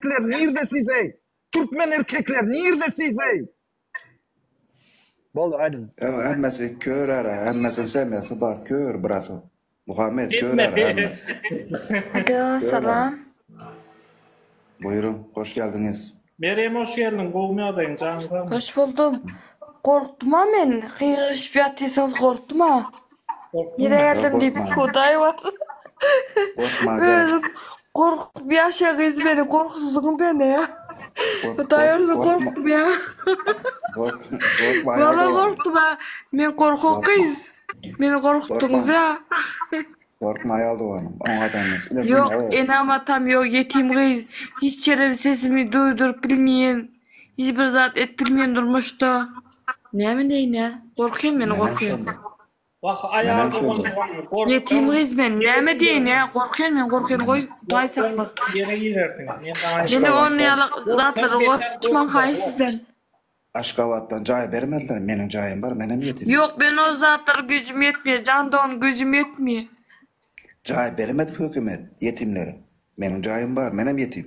erkekler nirde siz ey? Türkmen erkekler nirde siz ey? Boldy aýdyň. Ew hemmesi kör ara, hemmesi semyasy bar kör brato. Muhammet kör ara hemmesi. Alo, salam. Buýruň, hoş geldiňiz. Merýem hoş geldiň, gowymy ýagdaýyň, janyň sagmy? Hoş buldum. Gorkdum-a men, gygyryşyp ýatysyňyz gorkdum-a. Nirä geldiň diýip Hudaý bar. Özüm gorkup ýaşa gyz meni gorkuzdyň beni. Hudaý özüm gorkdum ýa. Gorkma. Wala gorkdum. Men gorkak gyz. Meni gorkutdyňyz ýa. Gorkma ýa doganym. Oňa dämez. Ýok enam atam ýok ýetim gyz. Hiç ýerim sesimi duýduryp bilmeýin. Hiç bir zat et bilmen durmuşda. Näme deýinä? Gorkýan men gorkýan. Wah aýal bolsun gorkýan. Ýetim gyz men näme deýinä? Gorkýan men gorkýan goý hudaý saklasyn. Ýere girersiň. Meni ony ýaly zatlary gorkutmaň haýyş sizden. Aşgabatdan jaý bermediler meniň jaýym bar menem ýetim. Ýok men ol zatlara güýjüm ýetmeýär jan dogan güýjüm ýetmeýär. Jaý bermedi hökümet ýetimlere meniň jaýym bar menem ýetim.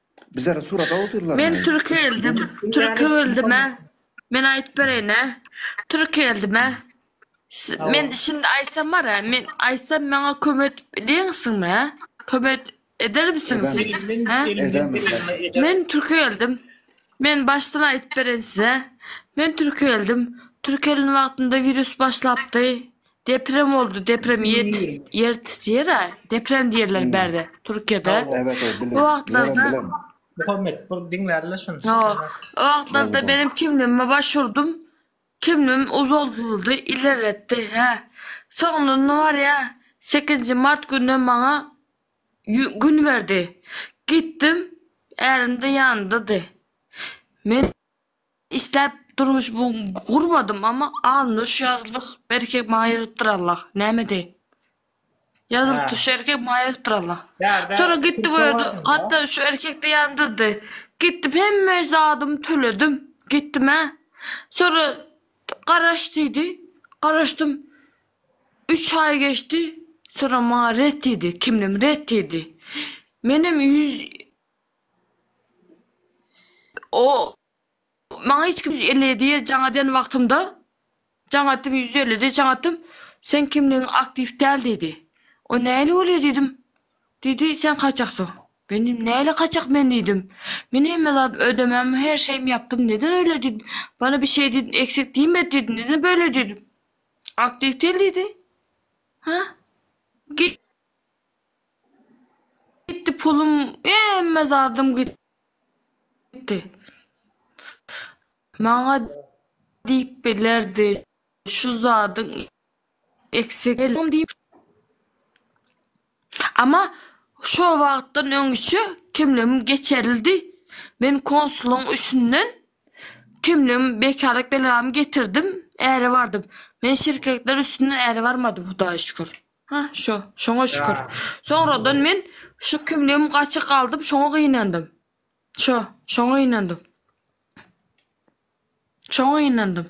Men türki geldim, türki geldim-ä. Men aýdyp bereýin-ä. Türki geldim-ä. Men şindi aýtsam bar-a, men aýtsam maňa kömek edip bileňsiňmi-ä? Kömek edermisiňiz siz? Men türki geldim. Men başdan aýdyp bereýin size. Men türki geldim. Türki gelen wagtymda wirus başlapdy. Deprem oldu, deprem ýet, ýer titrýär-ä, deprem diýerler Hmm. bärde, Türkiýede. Sag bol. Evet evet bilen. O wagtlarda- Bilen, bilen. Muhammet, bir diňlärle şuny. Ýo, o wagtlarda Boldy. benim kimligime başurdym, kimligim uzaldyldy, ilerletdi, hä. Soňundan ne bar ýa, sekizinji mart gününe maňa ýü- gün berdi. Gitdim, ärim-de ýanyndady. Men Isläp durmuş bu gurmadym amma alnymda şu ýazylyk bir erkek maňa ýazypdyr Allah näme edeýin. Ýazylypdyr şu erkek maňa ýazypdyr Allah. Sonra gitdi bu ýerde hatda şu erkek de ýanymda durdy. Gitdim hemme zadymy töledim. Gitdim hä. Sonra garaş diýdi. Garaşdym. 3 aý geçdi. Sonra maňa ret diýdi. Kimlim ret diýdi. Menem 100 O maňa hiç kim 157 ýer jaň eden wagtymda jaň atdym 150 de jaň atdym. Sen kimligiň aktiw däl diýdi. O näli bolýar diýdim. Diýdi sen kaçaksyň. Men diýdim näli kaçak men diýdim. Men hemme zat ödemem her şeyim yapdym neden öyle diýdim. Bana bir şey diýdim eksik diýmedi diýdim. Neden böyle diýdim. Aktiw däl diýdi. Ha? Git Gitdi pulum, hemme zadym gitdi. Maňa diýip bilerdi, şu zadyň eksik geldim diýip. Ama şu wagtdan öňçe kimligim geçerildi. Men konsulyň üstünden kimligim bekarlyk belgämi getirdim, äre bardym. Men şirketler üstünden äre barmadym Hudaýa şükür. Hah, şo. Şoňa şükür. Soňradan men şu kimligim gaçyk aldym, şoňa gynandym. Şo. Şoňa gynandym. Şoňa gynandym.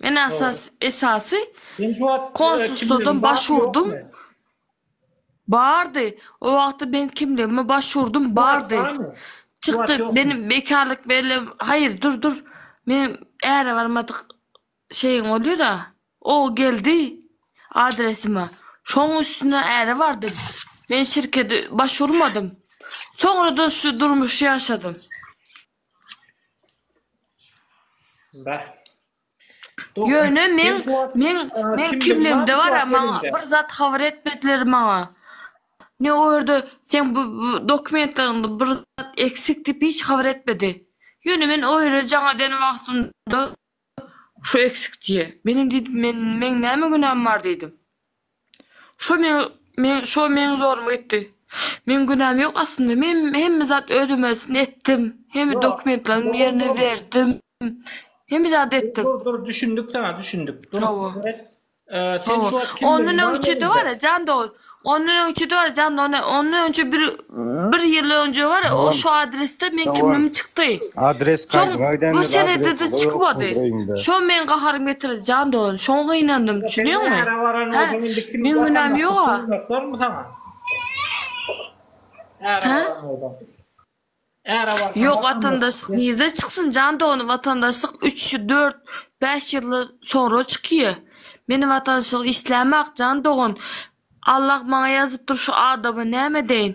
Men asas, esasy Sen şu wagt e, konsulstwadan kimligiň baş barmy, urdum. ýokmy? Bardy. O wagtda men kimligime baş urdum, Şu wagt bardy. barmy? Çykdy. ýokmy? Benim bekarlyk bellem. Hayır, dur, dur. Men äre barmadyk Şeýin bolýar-a. O geldi adresime. Şoň üstüne äre bardym. Men şirkede baş urmadym. Soňra-da şu durmuşy ýaşadym. Bah. Dogry. Ýöne meň, meň, meň kimligimde bar-a, maňa bir zat habar etmediler maňa. Ne o ýerde seň bu dokumentleriňde bir zat eksik diýip hiç habar etmedi. Ýöne men o ýere jaňa den wagtymda Şo eksik diýe. Men indi diýdim, men, meň näme günäm bar diýdim. Şo meň, meň, şo meň zoruma gitdi. Meň günäm ýok aslynda, men hemme zat öz ömelisini etdim. Hemme dokumentlerimi ýerine berdim. Hemme zady etdim. Dur, dur, düşündik saňa, düşündik. Dur, Hawa. dur, dur. Sen şu wagt kimdigini Ondan öňçe de bar, jan dost. Ondan öňçe de bar, jan dost. Ondan öňçe bir bir ýyl öňçe bar, o şu adresde men kimdigim çykdy. Adres gaýdyňa gidende adres ýokdy özüne de çykmady. Şo meň gaharym getirdi, jan dost. Şoňa gynandym, düşünýäňmi? Nära baran bolsaň indi kim Meň günäm ýoga. Nära baran bolsaň. Ýok watandaşlyk nirde çyksyn jan dogany watandaşlyk üç dört bäş ýylda soňra çykýa men watanşlyk islämak jan dogan Allah maňa ýazypdyr şu adama näme edeýin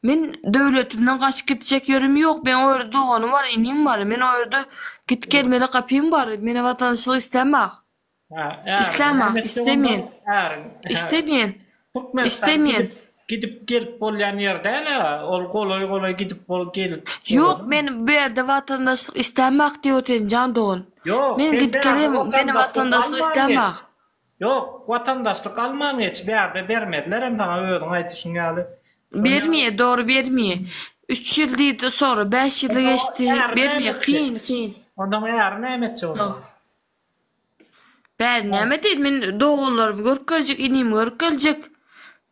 men döwletimden gaçyp gitjek ýerim ýok meň o ýerde doganym bar inim bar men o ýerde git gelmeli gapym bar mena watanşlyk islämak. Isläma, islemeýän, islemeýän, islemeýän. Gidip gelip bolýan ýer däl-ä, ol golaý-golaý gidip bolup gelip. Ýok, men bu ýerde watandaşlyk islämok diýip otyryn jan dogan. Men gidip gelýän, meniň watandaşlyk islämok. Ýok, watandaşlyk alman geç, bu ýerde bermezler hem saňa özüň aýdyşyň ýaly. Bermeýär, dogry bermeýär. Üç ýyl diýdi, soňra bäş ýyly geçdi, bermeýär, kyn, kyn. Ondan äri näme etjek onda? Bäri näme diýdi? Men doganlarymy görkezjek, inimi görkezjek.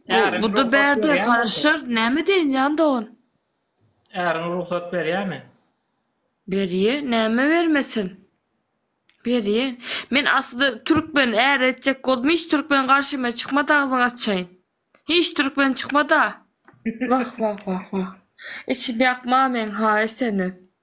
Bäri Bu da rugsat bärde berýär bolsa. garaşar. Näme diýen jan dogan? Äriň rugsat berýärmi? Berýär, näme bermesin? Berýär. Men aslynda türkmen är etjek boldum, hiç türkmen garşyma çykmady agzyňy açaýyn. Hiç türkmen çykmada. Wah wah wah wah. Içim ýakma meň haýy seni.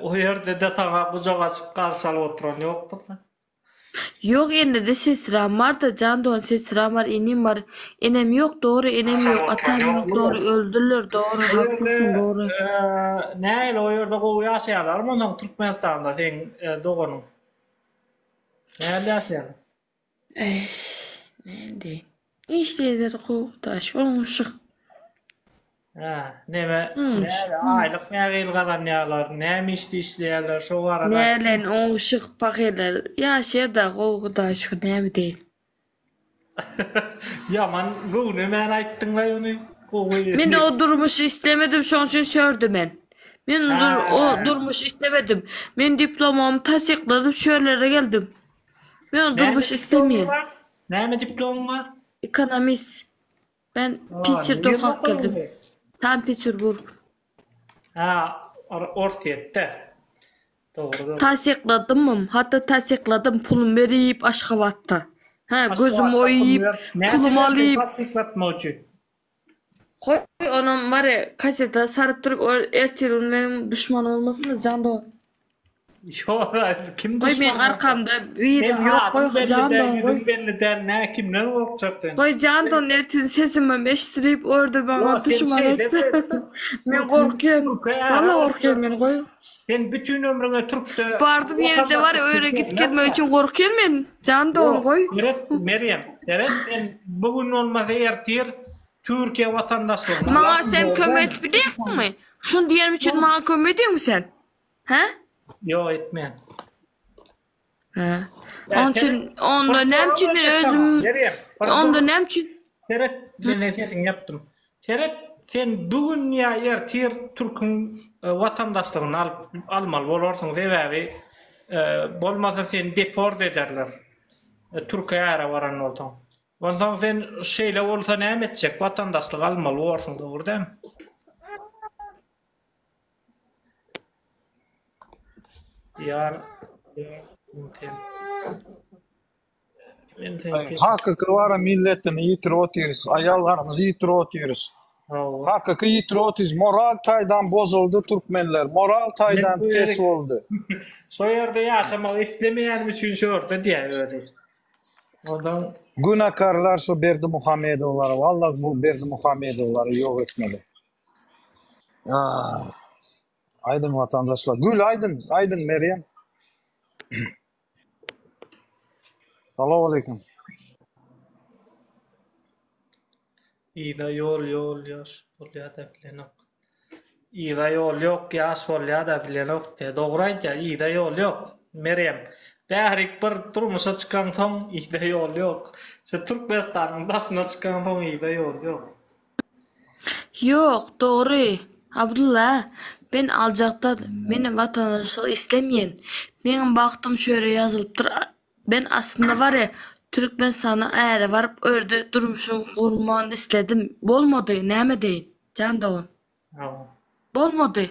O ýerde-de saňa gujak açyp garşy alyp oturan ýokdur-da? Ýok, indi-de sesram bar-da, jan dogan, sesram bar, inim bar. Enem ýok, dogry, enem ýok, atam ýok, dogry, öldüler, dogry, haklysyň, dogry. Nähili, o ýerde gowy ýaşaýarlarmy onsoň Türkmenistanda seň doganyň? Nähili ýaşaýarlar? Näme diýin? Işleýär kowdaş oňuşyk. Hä, neme, näme, aýlyk nähili gazanýarlar, näme işde işleýärler, şo barada. Näme bilen oňuşyk pahylar, ýaşaýar-da gowy Hudaýa şükür, näme diýin. Ýaman göwnemän aýtdyň-laý ony, gowy. Men o durmuşy islemedim, şoň üçin şörde men. Men o durmuşy islemedim. Men diplomymy tassykladym, şörlere geldim. Men durmuş islemeýän. Näme diplomy bar? Ekonomist. Ben Pitçer doka geldim. San Peterburg. Ha, Orsýetde. Dogrudan. Tassykladymym, hatda tassykladym pulum berip Aşgabatda. Ha, gözüm oýup, pulum alyp. Tassyklatmak üçin. Goý onam mary kaseta saryp durup ol ertirgün meniň duşman bolmasynda jan dogan. Ýok a kim duşman. Goý meň arkamda biri ýok goý jan dogan goý. Belli däl nä kimden gorkjak sen. Goý jan dogan ertirgün sesimem eşidilip orda maňa duşman etme. Men gorkýan. Walla gorkýan men goý. Sen bütün ömrüňe Türkde Bardy bir ýerde bar öýre git gelmek üçin gorkýan men. Jan dogum goý. Seret Merýem, seret sen bu gün bolmasa ertir Türkiýe watandaşlygyny Maňa alarsyň, sen kömek gördüň? edip bilýäňmi? Şuny diýenim üçin maňa kömek ediňmi sen? He? Ýok etmen. He. Onun üçin onda näme üçin men özüm onda näme üçin Seret, men sen sesini yaptım. Seret, sen bugün ya yer tir Türk'ün e, vatandaşlığını alıp almalı bolarsyň sebäbi e, bolmasa seni deport ederler. E, Türkiye ara varan bolsaň. Ondan sen şeýle bolsa näme etjek? Vatandaşlyk almaly borsuň, dogry dämi? Diyar Hakyky wara milletini ýitirip otyrys, aýallarymyzy ýitirip otyrys. Hakyky ýitirip otyrys. Moral taýdan bozuldy türkmenler. Moral taýdan pes boldy. Şu ýerde ýaşamak islemeýän üçin şu ýerde diýär özi. Ondan Günakarlar şu Berdi Muhammedowlar, walla bu Berdi Muhammedowlary ýok etmeli. Aýdym watandaşlar. Gül aýdym, aýdym Meryem. Salam aleyküm. Ýa ýol ýol ýaş bolýada bilenok. Ýa ýol ýok ýaş bolýada bilenok. Dogry aýtýa ýa ýol ýok. Meryem. Bärik bir durmuşa çykaň soň ýa ýol ýok. Şu Türkmenistanyň daşyna çykaň soň ýa ýol ýok. Ýok, dogry, Abdylla, men aljakdan, men watandaşlyk islemeýän. Meň bagtym şu ýere ýazylypdyr. Men aslynda barýa, Türkmenistana äre baryp, o ýerde durmuşymy gurman isledim. Bolmady, näme edeýin, jan dogan. Bolmady.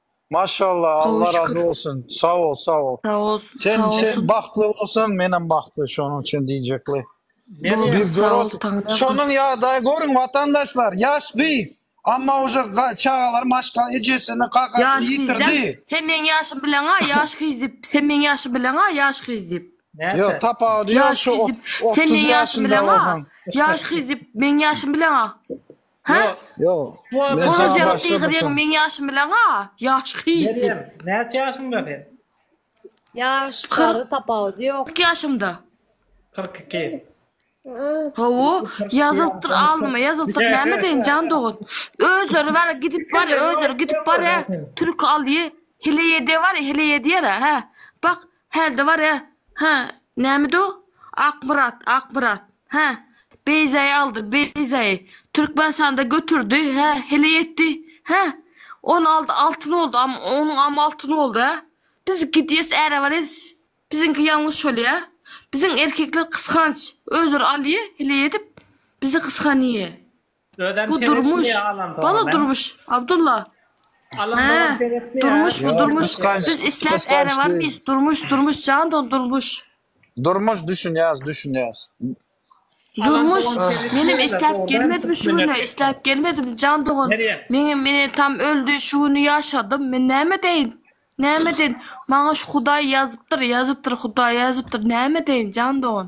Maşallah Allah razı olsun. Sağ ol sağ ol. Sağ ol. Sen sen bagtly bolsan men hem bagtly şonuň üçin diýjekli. Bir görot. Şonuň ýagdaýy görüň watandaşlar. Ýaş gyz. Amma uje çagalar maşka ejesini kakasyny ýitirdi. Sen meň ýaşym bileňa ýaş gyz diýip. Sen meň ýaşym bileňa ýaş gyz diýip. Ýok tapawut ýaş gyz diýip. Sen meň ýaşym bileňa ýaş gyz diýip. Meň ýaşym bileňa. Ha? Ýok. Ýok. Sual Men Gozerek başga bir gyz ýeň tam- meň ýaşym bilen-a. Ýaş hyýsy. Meryem, näçe ýaşyňda sen? Ýaş, Kyrk. gary tapawudy ýok. 40 ýaşymda. 42. Hawa, ýazyltdyr alnyma, ýazyltdyr näme deýin jan dogan. Özleri bar, gidip bar, özleri gidip bar, hä. Türki alýy, heleýede bar, heleýe diýer, hä. Bak, Hälde bar ýa? Hä, nämedi-o? Akmyrat, Akmyrat. Hä, Beýzäýi aldy, Beýzäýi. Türkmenistanda götürdi, hä, heleý etdi. Hä, ony aldy, altyn boldy, am, onuň am altyn boldy, hä? Biz gidýäs, äre barýas. Biziňki ýalňyş şol ýa? Biziň erkekler gysganç, özleri alýa, heleý edip, bizi gysganýa. Bu durmuş. Bala durmuş. Abdulla. Durmuş bu durmuş. Biz isläp äre barmyýas. Durmuş durmuş jan don durmuş. Durmuş düşünýäs düşünýäs. Durmuş menem isläp gelmedim şu güne isläp gelmedim jan dogan. Meňem meni tam öldi şu güni ýaşadym. Men näme deýin? Näme deýin? Maňa şu hudaý ýazypdyr ýazypdyr hudaý ýazypdyr näme deýin jan dogan.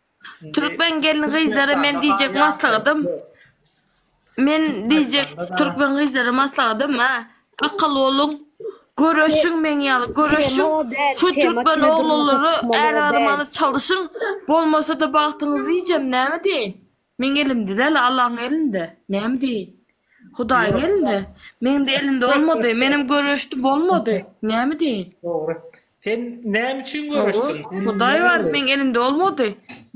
Türkmen gelin gyzlara men diýjek maslahatym men diýjek türkmen gyzlara maslahatym ha akyl boluň göreşiň meň ýaly göreşiň şu türkmen oglanlara är aramaly çalyşyň bolmasada bagtyňyzy diýjem näme diýeýin meň elimde däl Allaň elinde näme diýeýin Hudaýyň Ýok. elinde. Meň-de elimde bolmady. Menem göreşdi, bolmady. Näme diýeýin? Dogry. Sen näme üçin Dogry. göreşdiň? Sen Hudaý näme bar, meň elimde bolmady.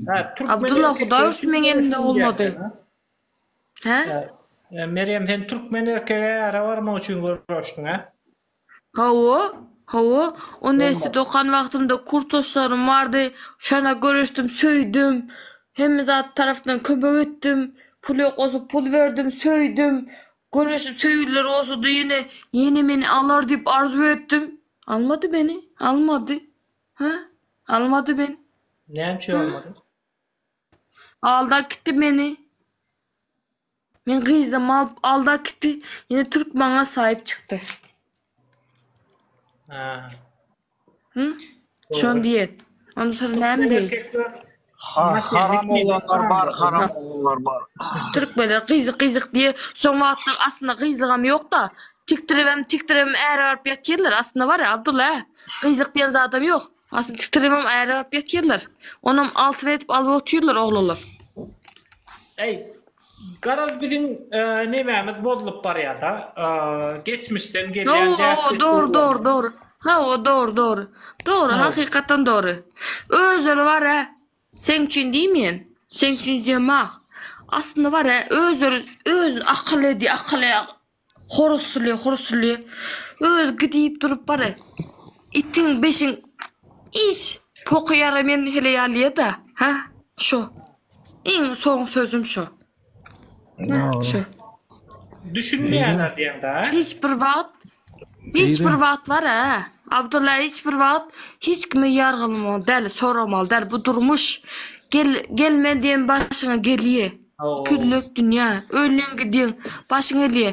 Ha, türkmen Abdulla, erkekleri Hudaý üçin ursun, meň elimde göreşdiň bolmady. diýýärler, ha? Hä? Hä, Merýem, sen türkmen erkege äre barmak üçin göreşdiň, hä? Hawa, hawa. Ony esli okan wagtymda kursdaşlarym bardy. Şonda göreşdim, söýdüm. Hemme zat tarapdan kömek etdim. Pul ýok bolsa pul berdim, söýdüm. Göreşdim, söýgüliler bolsady ýene, ýene meni alar diýip arzuw etdim. Almady meni, almady. Hä? Almady meni. Näme üçin almady? Aldap gitdi meni. Men gyzam alyp alda gitdi ýene türk maňa saýyp çykdy. Ha. Hı? Şon diýet. Onda syr näme diýi? Ha, haram oglanlar bar, haram oglanlar bar. Türkmenler gyzyk gyzyk diýe. Şoň wagtda aslynda gyzlygam ýokda. Tikdiribem, tikdiribem äre baryp ýatyrlar. Aslynda bar-a Abdulla. Gyzyk diýen zadam ýok. Asyl çytrymam ärigap ýatyrlar. Onam altyn edip alyp otyrlar oglanlar. Eý, garaz biziň nemämiz bozulyp barýada. Geçmişden gelýän däpdir. Dogry, dogry, dogry. Hawa, dogry, dogry. Dogry, hakykatdan dogry. Özleri bar-a, seň üçin diýmeýän, seň üçin diýemok. Aslynda bar-a, özleri özüni akylly diýýär, akyly Horuzly, horuzly. Öz gidip durup bara. Itin beşin iş poky ýara men hele ýalyýa-da. Ha, şo. Iň soň sözüm şo. Şo. Düşünmeýän adýaň-da. Hiç bir wagt, hiç bir wagt bara. Abdulla hiç bir wagt hiç kimi ýargylamaly däl, soramaly däl. Bu durmuş. Gel, gelme diýen başyňa gelýä. Kürlek dünýä, öliň gidiň, başyň elýe.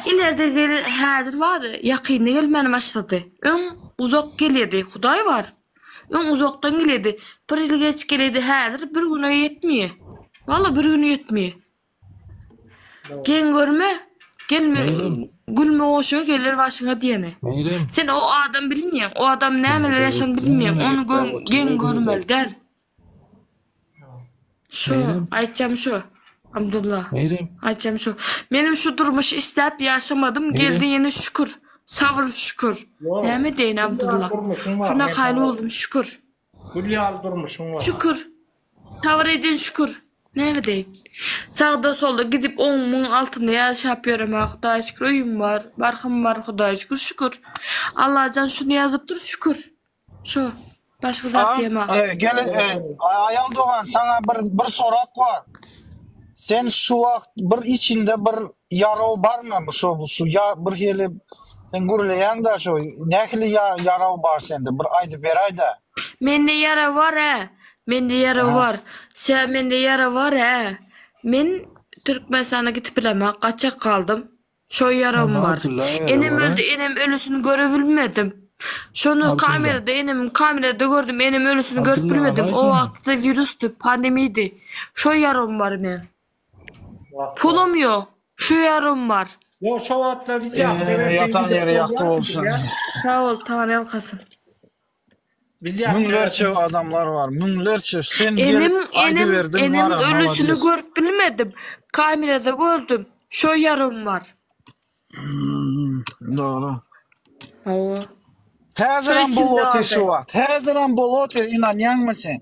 Ilerde gel, häzir bar, ýakynda gelmäne başlady. Öň uzak gelýedi, Hudaý bar. Öň uzakdan gelýedi, bir ýyl geç gelýedi, häzir bir güne ýetmeýe. Walla bir güne ýetmeýe. Geň görme, gelme, gülme goşa geler başyňa diýeni. Sen o adamy bilmeýäň, o adam nämeler ýaşan bilmeýäň, ony geň görmeli däl. Şu, Neýlem? aýtjam şu. Abdulla. Neýlem? Aýtjam şu. Menem şu durmuşy isläp ýaşamadym, geldi ýene şükür. Sabr şükür. Ýok. Näme deýin Gülýan Abdulla? durmuşyň bar, Şuna men haýyl sana- boldum şükür. Gül ýaly durmuşyň bar. Şükür. Sabr edin şükür. Näme deýin? Sagda solda gidip on müň altynda ýaşap ýöremä Hudaýa şükür öýüm bar, barhym bar Hudaýa şükür şükür. Allajan şuny ýazypdyr şükür. Şu başga zat diýemok. Tamam, e, gel, e, a- aýal dogan, saňa bir bir sorak bar. Sen şu wagt bir içinde bir ýaraw barmy? Bu şu şu ya bir hili sen gürleýäň-de şu nähili ya, ýaraw bar sende? Bir aýdyp beräýdä. Mende ýara bar hä. Mende ýara Ha. bar. Tä mende ýara bar hä. Men Türkmenistana gidip bilemok. Gaçak galdym. Şo ýaragym bar. Enem öldi, enem ölüsini görebilmedim. Şony kamerada enemiň kamerada gördüm, enem ölüsini görüp bilmedim. O wagtda wirusdy, pandemiydy. Şo ýaragym bar men. Pulum ýok. Şo ýaragym bar. Ýok, şo wagtlar biz ýatyr. Ýatan ýeri ýagty bolsun. Sag bol, Taňryýalkasyn. Biz ýaşlara Müňlerçe adamlar bar. Müňlerçe. Sen Enem, gelip enem, aýdyberdiň enem wara. ölüsini Malades. görüp bilmedim. Kamerada gördüm. Şo ýarym bar. Hmm, Dogry. Hawa. Häzir hem Şeýtsin bolup otyr däde. şu wagt. Häzir hem bolup otyr, ynanýaňmy sen?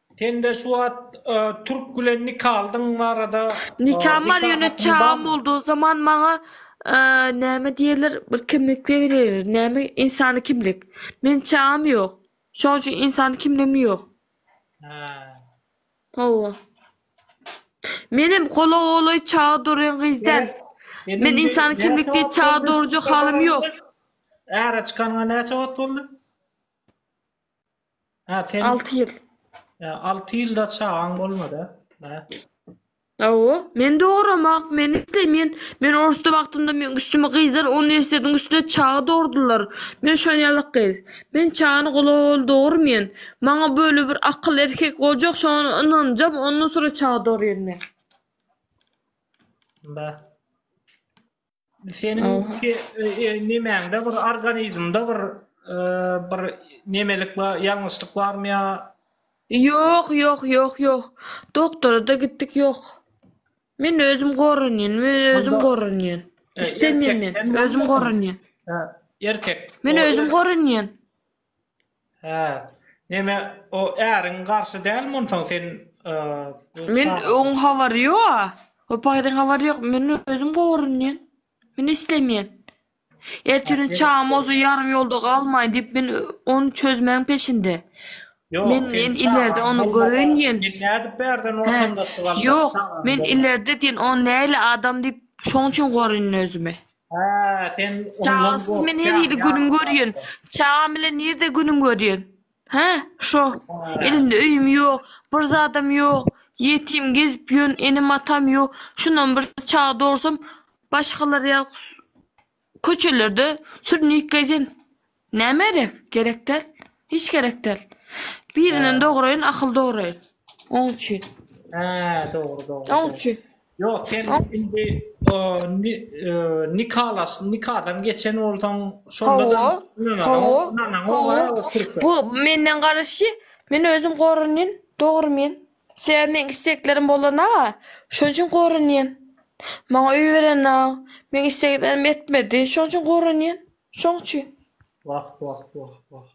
Sende şu wagt türk bilen nikalydygyň barada. Nikam bar ýöne çagam boldy zaman maňa näme diýerler bir kimlik berilýär näme ynsany kimlik men çagam ýok şoň üçin ynsany kimligim ýok. Hawa. Menem gola golaý çaga dorýan gyz däl. Men ynsany kimlik diýip çaga dorujak halym ýok. Äre çykanyňa näçe wagt boldy? Hä, sen... Alty ýyl. Hä, alty ýylda çagaň bolmady, hä? Hawa, men dogramak, men isleýmen. Men orsda wagtymda meň üstüme gyzlar uniwersitetiň üstüne çaga dogurdylar. Men şol ýaly gyz. Men çagany golaýbaly dogurman. Maňa böyle bir akyl erkek boljak, şoňa ynanjam, ondan soňra çaga dogurýan men. Bä. Seniň nemäňde bir organizmde bir bir nemelik bar, ýalňyşlyk barmy ýa? Ýok, ýok, ýok, ýok. Doktora-da gitdik, ýok. Men özüm goranýan, men özüm goranýan. Istemem men, özüm goranýan. Erkek. Men özüm goranýan. Hä. Neme o äriň garşy dälmi onsoň sen bu Men çaga? oň habary ýoga. O paýdan habary ýok. Men özüm gorunýan. Men islemýän. Ertiriň çagam bolsa ýarym ýolda galmaýyn diýip men ony çözmäň peşinde. Ýok, Men seň men ilerde çagaň ony bolmasa, göreýin diýen. Men nädip bärden Hä. ortamda sygalda Ýok, çagaň men bolmasa? ilerde diýen o nähili adam diýip şoň üçin gorunýan özümi. Ha, sen Çaga siz men her ýerde günüň görýän. Çaga bilen nirde günüň görýän? Ha, şo. Elimde öýüm ýok, bir zadam ýok. Ýetim gezip ýön, enem atam ýok. Şundan bir çaga dorsam, başgalar ýa köçelerde sürnük gezen. Näme gerek? Gerek däl. Hiç gerek däl. Birinden dograýyn, akyl dograýyn. Oň üçin. Hä, dogry, dogry. Oň üçin. Ýok, sen indi o, ni- e, nikalaş, nikadan geçen bolsaň, şonda da Hawa, ynanaň, hawa, ynanaň, hawa. oňa o türkmen. Bu menden garaşy, men özüm goranýan, dogry men. Sebäbi meň isteklerim bolana-a, şonuň üçin goranýan. Maňa öý berene-a, meň isleglerimi etmedi, şonuň üçin goranýan. Şoň üçin. Wah, wah, wah, wah.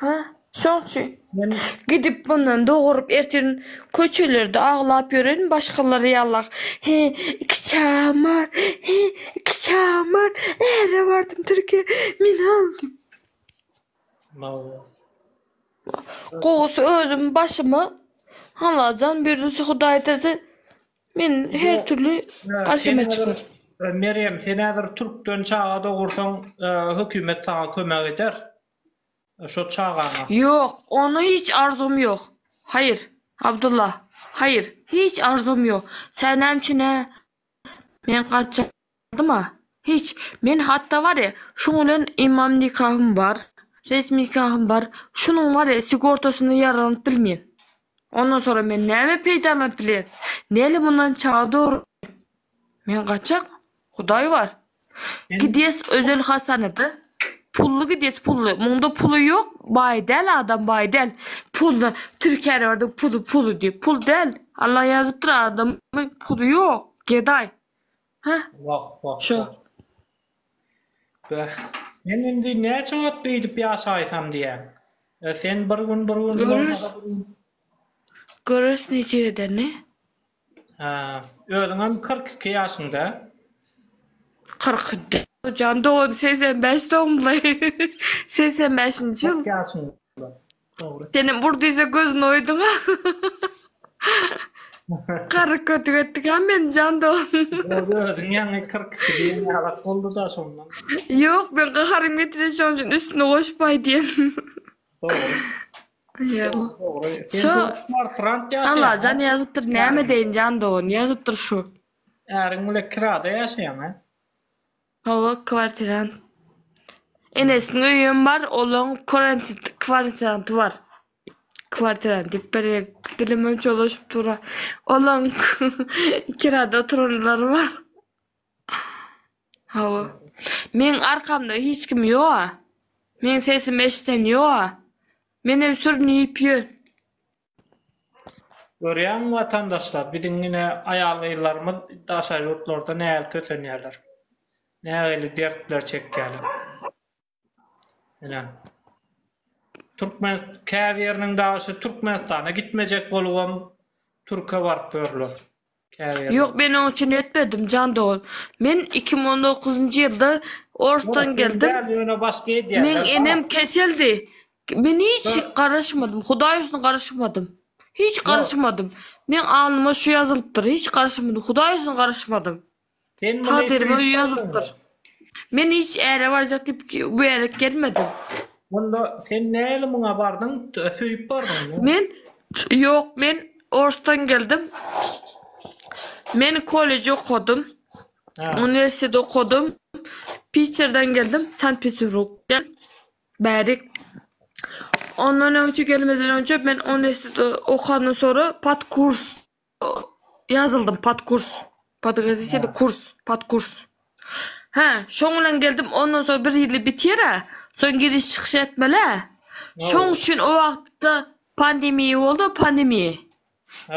Hä, şoň üçin. Men. Gidip bundan doguryp ertir köçelerde aglap ýörerin başgalar ýala. He, iki çagam bar, he, iki çagam bar. Äre bardym Türkiýä, meni al diýip. Gowusy özüm başyma halajan birisi hudaýtirse men her türli garşyma çykar. Merýem sen häzir türkden çaga dogursaň hökümet saňa kömek eder şo çagaňa. Ýok ona hiç arzum ýok. Haýyr Abdullah haýyr hiç arzum ýok sen näme üçin hä men gaçan. Boldumy? Hiç. Men hatda barýa, şuň bilen imam nikahym bar, resmi nikahym bar, şunuň barýa sigortasyna ýaranyp bilmen. Ondan soň men näme peýdalanyp bilen? Näle mundan çaga dogrumy? Men gaçak. Hudaý bar. Gidýäs özel hassana-da. Pully gidýäs, pully. Munda puly ýok, baý däl adam, baý däl. Pully, türkärewerdin puly, puly diýip, pul däl. Allah ýazypdyr adamy, puly ýok, gedaý. Ha. Wah, wah. Şo. Bäh. Men indi näçe wagt beýdip ýaşaýsam diýýän. E, sen bir gün, bir gün, bolmasa bir gün. Görüs niçik edeni. Ha, özüňem kyrk iki ýaşyňda. Kyrk iki. Jan dogan segsen bäş dogumly. Segsen bäşinji ýyl. Kyrk ýaşyňda. Dogry. Senem bur diýse gözüni oýduň. Garry kötük etdik ha men jan do. Dogry özüň ýaňy 42 diýen ýalak boldy da şondan. Ýok, men gaharym getirdi şonuň üçin üstüne goşup aýdýan. Dogry. Ýa. Dogry. Sen Şo- dört kwartirant ýaşaýaň. Allah jan ýazypdyr näme deýin jan dogan ýazypdyr şu. Äriň bilen kirada ýaşaýaň ha. Hawa kwartirant. Enesiniň öýem bar, olaň kwarant kwartiranty bar. Kwartirant diýip berýän dilimem çolaşyp dur-a. Olaň kirada oturanlary bar. Hawa. Meň arkamda hiç kim ýok-a. Meň sesimi eşiden ýok-a. Menem sürünip ýör. Görýäňmi watandaşlar, biziň ine aýal-gyzlarymyz daşary ýurtlarda nähili kösenýärler. Nähili dertler çekýärler. Ine. Türkmenistan käbiriniň daşy Türkmenistana gitmejek bolubam Türkiýe baryp ýörler. Käbir Ýok men oň üçin etmedim jan dogan. Men iki müň on dokuzynjy ýylda Orsdan geldim. Ýöne başga edýär. Meň enem keseldi. Men hiç garaşmadym. Hudaý üçin garaşmadym. Hiç garaşmadym. Meň alnyma şu ýazylypdyr. Hiç garaşmadym. Hudaý üçin garaşmadym. Sen muny Takdyryma öýe ýazypdyr. Men hiç äre barjak diýip bu ýere gelmedim. Onda sen näli muňa bardyň? Söýüp bardyňmy? Men ýok, men Orsdan geldim. Men kolleji okadym. Ha. Uniwersitet okadym. Piçerden geldim, Sankt-Peterburgdan bärik. Ondan öňçe gelmeden öňçe men uniwersitet okadan sonra pat kurs Ýazyldym pod kurs. Podgazisiýada kurs, pod kurs. Hä, şoň bilen geldim, ondan soň bir ýyly biter-ä, soň giriş çykyş etmeli-ä. Şoň üçin o wagtda pandemiýa boldy, pandemiýa.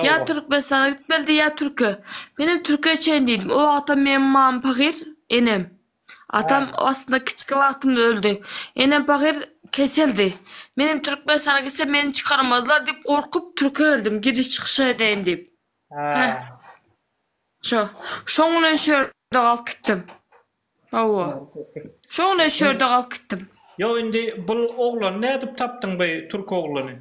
Ýa Türkmenistana gitmelidi, ýa Türkiýä. Menem Türkiýä çenli diýdim. O wagtam meň mamam pahyr, enem. Atam aslynda kiçki wagtymda öldi. Enem pahyr keseldi. Men hem Türkmenistana gitsem meni çykarmazlar diýip gorkup Türkiýe geldim giriş çykyşa edeýin diýip. Hä. Şo. Şoň bilen şu ýerde galyp gitdim. Hawa. Şoň bilen şu ýerde galyp gitdim. Ýok indi bul oglany nädip tapdyň bu türk oglany?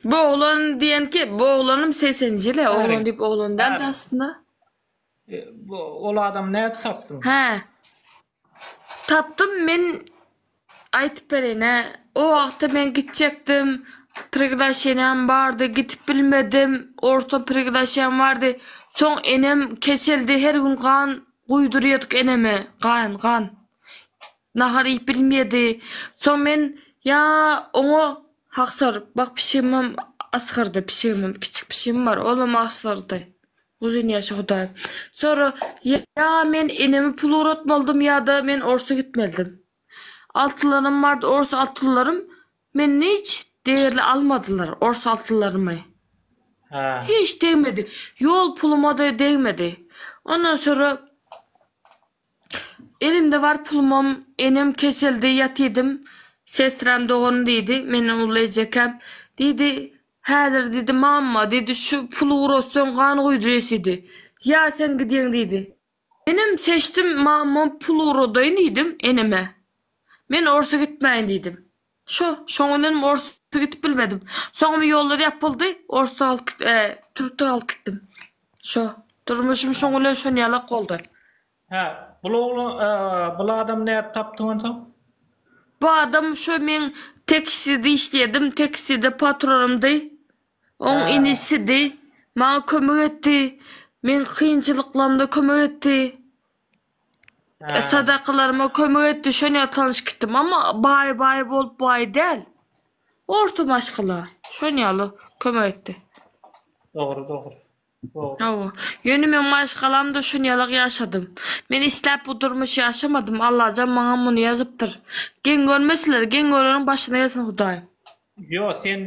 Bu oglan diýenki bu oglanym segseninji ýyl oglan diýip oglan däldi aslynda. E, bu, ol adam nädip tapdyň? Hä. Tapdym men aýtyp bereýin-ä. O wagtda men gitjekdim. Priglaşeniýam bardy, gidip bilmedim. Orta priglaşeniýam bardy. Soň enem keseldi, her gün gan guýdurýardyk eneme. Gan, gan. Nahar iýip bilmeýärdi. Soň men ýa oňa haksar, bak pişigimem asgyrdy, pişigimem, kiçik pişigim bar, olam asgyrdy. Uzyn ýaşa Hudaýym. Sonra ýa men enemi pul ugratmalydym ýa-da men orsa gitmelidim. Altylanym bardy ors altylarym menden hiç degerli almadylar ors altylarymy. Hä. Hiç degmedi. Ýol puluma-da degmedi. Ondan sonra Elimde bar pulumam, enem keseldi, ýatydym. Sestram dogan diýdi, menden uly ejekäm. Diýdi, Häzir diýdi, mamma diýdi, şu puly ugrotsaň gan guýdurýas diýdi. Ýa sen gidýäň diýdi. Menem seçdim, mammam pul ugrodaýyn diýdim eneme. Men orsa gitmäýin diýdim. Şo, şoňa menem orsa gitip bilmedim. Soňam ýollar ýapyldy, orsa galyp git, e, türkde galyp gitdim. Şo, durmuşym şoň bilen şon ýalak boldy. Hä, bul ogla, e, bul adamy nädip tapdyň onsoň? Bu adam şo men tekside işleýärdim, tekside patronymdy. Oň Hä. inisidi. Maňa kömek etdi. Meň kynçylyklarymda kömek etdi. Sadakalaryma kömek etdi şon ýatanyş gitdim amma baý baý bolup baý däl. Orta maşgala şon ýaly kömek etdi. Dogry dogry. Dogry. Hawa. Ýöne men maşgalamda şon ýalak ýaşadym. Men isläp bu durmuşy ýaşamadym. Allajan maňa muny ýazypdyr. Geň görmeseler, geň göreniň başyna gelsin Hudaýym. Ýo, sen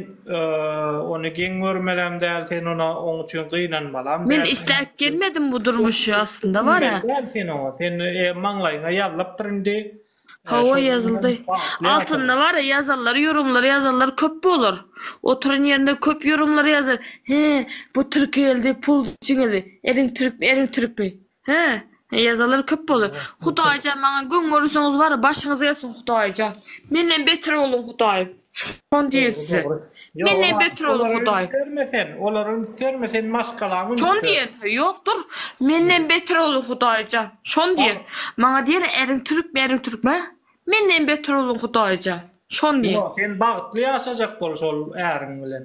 ony geň görmeläm däl, sen ona oň üçin gynanmalam däl. Men isläp gelmedim bu durmuşy, aslynda bar-a. Gynanmaly däl sen oňa, sen maňlaýyňa ýazlapdyr indi. Hawa, ýazyldy. Altynda bar-a, ýazanlar, ýorumlar ýazanlar köp bolar. Oturan ýerinde köp ýorumlar ýazar, He, bu türki geldi, pul üçin geldi. Eriň türkmi, eriň türkmi? He, he ýazalar köp bolar. Hudaýjan maňa göň görürseniz bar, başyňyz gelsin Hudaýjan. Menden beter bolyň Hudaýym. Şon diýer size. Menden beter bolyň Hudaýym. Görme sen, olar üns berme sen maşgalaň üns. Şon diýen, ýok dur. Menden beter bolyň Hudaýjan. Şon diýen. Maňa diýer eriň türkmi, eriň türkmi? Menden beter bolyň Hudaýjan. Şon diýen. Ýok, sen bagtly ýaşajak bol şol äriň bilen.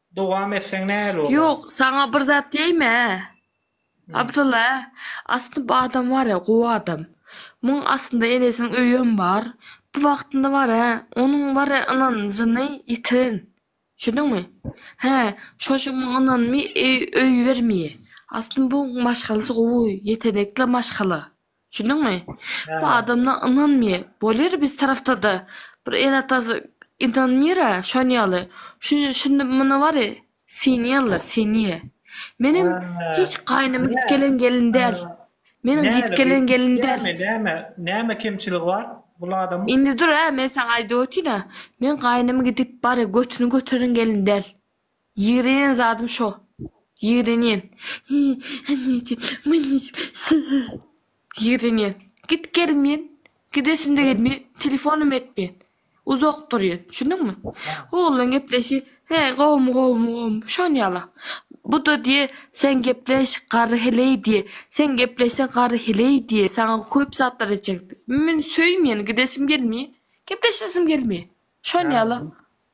Dowam etseň näl bolar. Ýok saňa bir zat diýäýmä Abdylla aslynda bu adam barä gowy adam muň aslynda enesiniň öýem bar bu wagtynda barä onuň barä ynanjyny ýitiren düşündiňmi hä şoşun muň ynanmy öý öý bermýä aslynda bu maşgalasy gowy ýetenekli maşgala Düşündüňmi? Bu Hä. adamla ynanmy? Bolar biz tarapda-da. Bir ene-atasy ynanmyr-a, şon ýaly. Şu şindi muny bary synýarlar, synýa. Menem Hä. hiç gaýnymy Näme? gitgelen gelin däl. Meniň Näme, gitgelen gelin däl. Näme, näme, näme kemçiligi bar bul adamyň? Indi dur-a, men saňa aýdyp otyryn-a. Men gaýnymy gidip bary götüni göteren gelin däl. Ýigrenýän zadym şo. Ýigrenýän. Annejik, mannejik, syy. Ýigrenýän. Git gelmeýän. Gidesim-de gelmeýän. Telefonym etmeýän. Uzak durýan. Düşündiňmi? Oglan gepleşi, He, gowumy, gowumy, gowumy. Şon ýala. Bu-da diýe, Sen gepleş, garry heleý diýe. Sen gepleşseň garry heleý diýe. Saňa köp zatlar etjek. Men söýmeýän, gidesim gelmeýän. Gepleşesim gelmeýän. Şon ýala.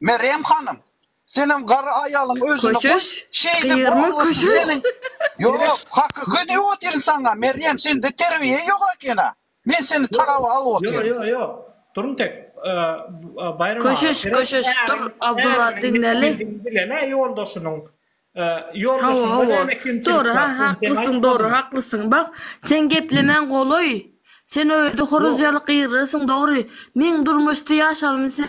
Merýem hanym, senem garry aýalyň özüni goý, Köşeş, şeýdip gyýyrma oglysy köşeş. seniň Ýok, hakyky diýip otyryn saňa, Merýem, sende terbiýe ýok eken-ä. Men seni talaba alyp Ýok, otyryn. ýok, ýok. Durun tek, Baýram aga, Köşeş, gerek köşeş, dur, äriň, Abdylla, äriň diňleli. ýitgidigini bilen-ä ýoldaşynyň, Hawa, ýoldaşyňda hawa. näme kemçilik Dogry, bar, sen sen haklysyň, dogry, aýtmalymy? haklysyň. Bak, sen geplemäň golaý. Sen öýde horuz Ýok. ýaly gyryrsyň, dogry. Meň durmuşda ýaşalymy sen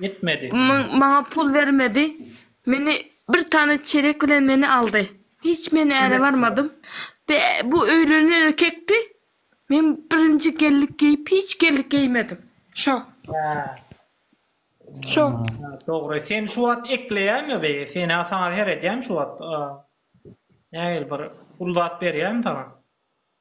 Etmedi. Maňa pul bermedi. Meni bir tane çerek bilen meni aldy. Hiç men äre barmadym. Be, bu öýlenen erkekdi. Men birinji gellik geýip hiç gellik geýmedim. Şo. Hä. Şo. Ha, Dogry. Sen şu wagt ekleýäňmi be? Sen ha saňa seredýän şu wagt. Aa. Nägil bir pul zat berýän saňa.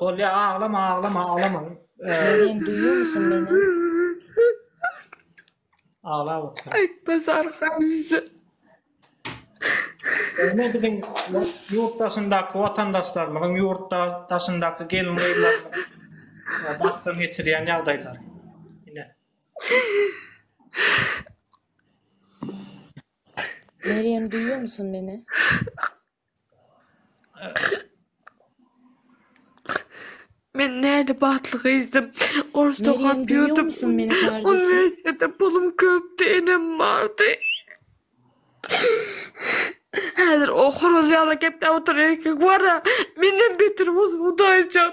Bolýa aglama aglama aglama. Menem duýýarmyşyn meni. Agla otur. Aýtma sarkan bize. Ene biziň ýurt daşyndaky watandaşlarymyzyň ýurtda daşyndaky gelin gyzlar basdan geçirýän ýagdaýlar. Ine. Meryem duýýarmyşyn meni. Men nädip atly gyzdym. Orus Meryem, okap duýuw ýördüm. musun meni kardeşim? Uniwersitetde pulum köpdi, enem bardy. Häzir o horaz ýaly gepläp oturan erkek bara, menden beter bolsun Hudaýjan.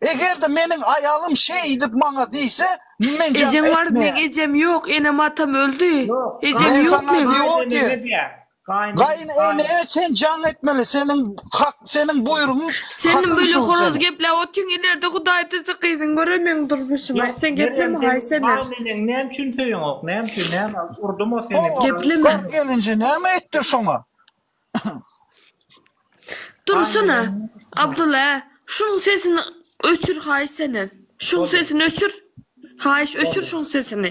Eger-de meniň aýalym şeýdip maňa diýse, men jaň Ejeň bar, meň etmeýän. ejem ýok, enem-atam öldi. Ýok, Ejem Men ýok saňa meň. diýip otyr. gaýyneneme diýer. Gaýyn, gaýyn. Gaýynenä sen jaň etmeli, seniň hak, seniň buýrugyň, Sen hakyň böyle şu horoz seniň. gepläp otyň, ilerde Hudaý diýse gyzyň görer meň durmuşymy. Ýok, Aý sen gepleme Merýem, haý sen sen er. gaýyneneňi näme üçin söýeňok, näme üçin, näme, urdumy o seni, Ho-o, Gepleme. gar gelinje näme etdir şoňa? Dursana Abdullah ä şunuň sesini öçür haýyş senden şuň sesini öçür haýyş öçür şuň sesini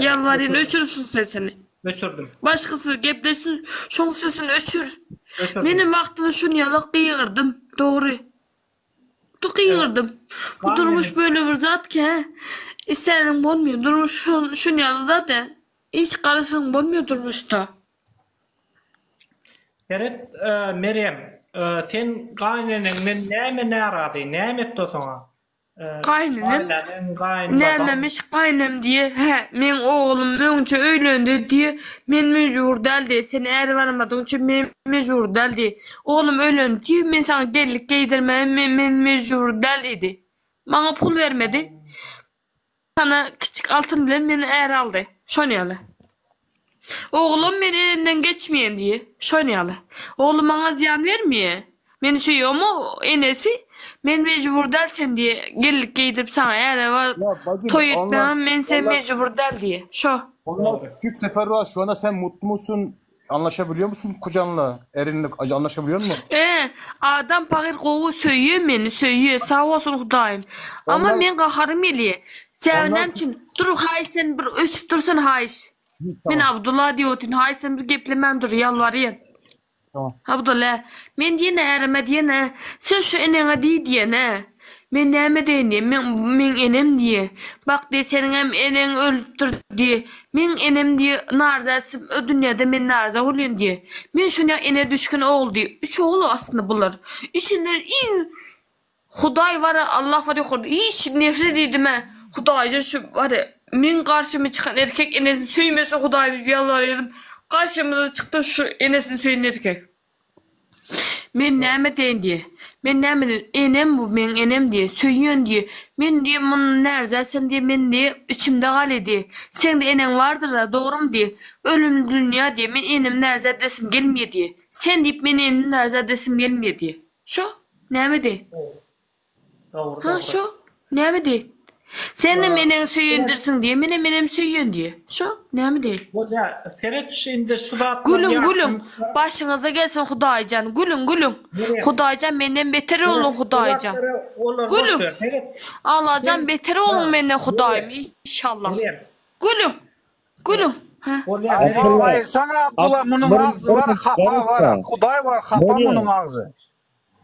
ýalbarýan öçür şuň sesini öçürdim başgasy gepleşsin şuň sesini öçür menem wagtynda şuny ýalak gygyrdym dogry tu gygyrdym bu durmuş böyle bir zat ki istäniň bolmaýan durmuş şuny ýaly zat ä. Hiç garaşyň bolmuyor durmuşda. Seret Merýem, sen gaýyneneňden näme närazy, näme etdi o saňa? Gaýynenem? Gaýyneneň, gaýynbabam. Nämemiş gaýynem diýe, hä, meň oglum öňçe öýlendi diýe, men mejbur däl diýe, sen äri barmadyň üçin men mejbur däl diýe. Oglum öýlendi diýe, men saňa gellik geýdirmäge men mejbur däl diýdi. Maňa pul bermedi. Ana, kiçik Altyn bilen meni är aldy. Şon ýaly. Oglam men enemden geçmeýän diýýä. Şon ýaly. Ogly maňa zyýan bermeýä. Meni söýýä, emma enesi, Men mejbur däl sen diýýä, gellik geýdirip saňa äre bar, toý etmäge men sen mejbur däl diýýä. Şo. Onda kiçik teferruat şona sen mutlymy syn Anlaşa biliyor musun kocanla? Erinle anlaşa biliyor musun? Ee, adam pahyr gowy söýýär meni, söýýär, sag bolsun Hudaýym. Amma Ondan- men gaharym gelýär. Säňe Ondan- näme üçin? Dur, haýyş sen bir öçüp dursun haýyş. Men Tamam, Abdulla diýip otyryn, haýyş sen bir geplemän dur, ýalbarýan. tamam. Abdulla, men diýene ärime diýene, sen şu eneňe diý diýene. Men näme edeýin diýýä. Meň, meň enem diýýä. Bak diýýä, seniňem eneň ölüpdir diýýä. Meň enem diýýä, narzäsi o dünýäde men narzä bolýan diýýä. Men şonýa enä düşgün ogul diýýä. Üç ogul aslynda bular. Üçünde iň Hudaý bar-a, Allah bar ýokarda. Hiç nefret edimä Hudaýdan şu bar-a. Meň garşyma çykan erkek enesini söýmese Hudaý diýip ýalbarýaryn. Garşymyza çykdy şu enesini söýen erkek. Men näme edeýin diýe. Men näme edeýin. Enem bu meň enem diýe. Söýýän diýe. Men diýe mundan närdäsem diýe men diýe içimde galy diýe. Seň-de eneň bardyr-a, dogrumy diýe. Ölümli dünýä diýe. Men enemi närdä edesim gelmeýä diýe. Sen diýip men enimi närdä edesim gelmeýä diýe. Şo. Näme edeýin. Ha şo, näme diý? Sen-de menem söýendirsiň diý, menä menem söýýän diý. Şo, näme diý? Bolýa, seret şu indi şu zatlar. Gülüň, gülüň. Başyňyza gelsin Hudaý jan. Gülüň, gülüň. Hudaý jan menden beter oluň Hudaý jan. Gülüň. Alla jan beter oluň menden Hudaýym inşallah. Gülüň. Gülüň. Aýyrsana Abdylla munuň agzy bar hapa bar Hudaý bar hapa munuň agzy.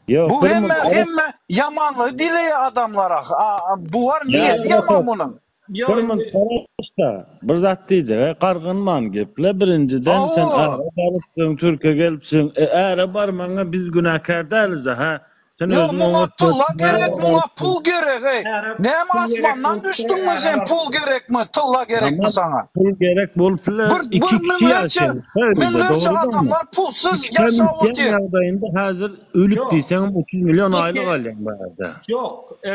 Bu hemme hemme ýamanlygy dileýä adamlara a bu bar niýeti ýaman munuň. Bir munt garaşda bir zat diýjege gargynman geple birinjiden sen äre barypsyň türke gelipsiň e äre barmaňa biz günäkär däliz a hä sen özüň oňat muňa tylla gerek muňa pul gerek eý näme asmandan düşdüňmi sen pul gerekmi tylla gerekmi saňa pul gerek bolup biler iki kişi ýaşaýan Şeýle-de Müňlerçe dogrudyr mu? adamlar pulsuz Üçden ýaşap üýtgän otyr. ýagdaýynda häzir ölüp Ýok. diýseňem otuz million aýlyk Türkiýe alýan barada. Ýok, e,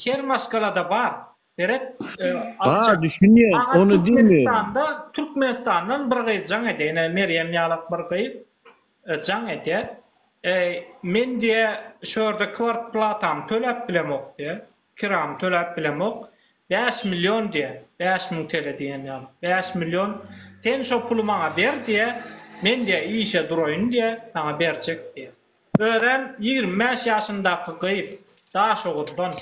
her maşgalada bar. Seret, e, Bar, aljak. düşünýän, Aňa ony diýmeýärin. Türkmenistanda, Türkmenistandan bir gyz jaň edýär, ine Merýem ýalak bir gyz e, jaň edýär. E, men diýýär, şu ýerde kwartplatamy töläp bilemok diýýär. Kiram töläp bilemok. Bäş million diýä. Bäş müň tele diýen ýaly. Bäş million. Sen şo puly maňa ber diýä. Men diýä işe duraýyn diýä. Saňa berjek diýä. Özem ýigrimi bäş ýaşyndaky gyz. Daşoguzdan.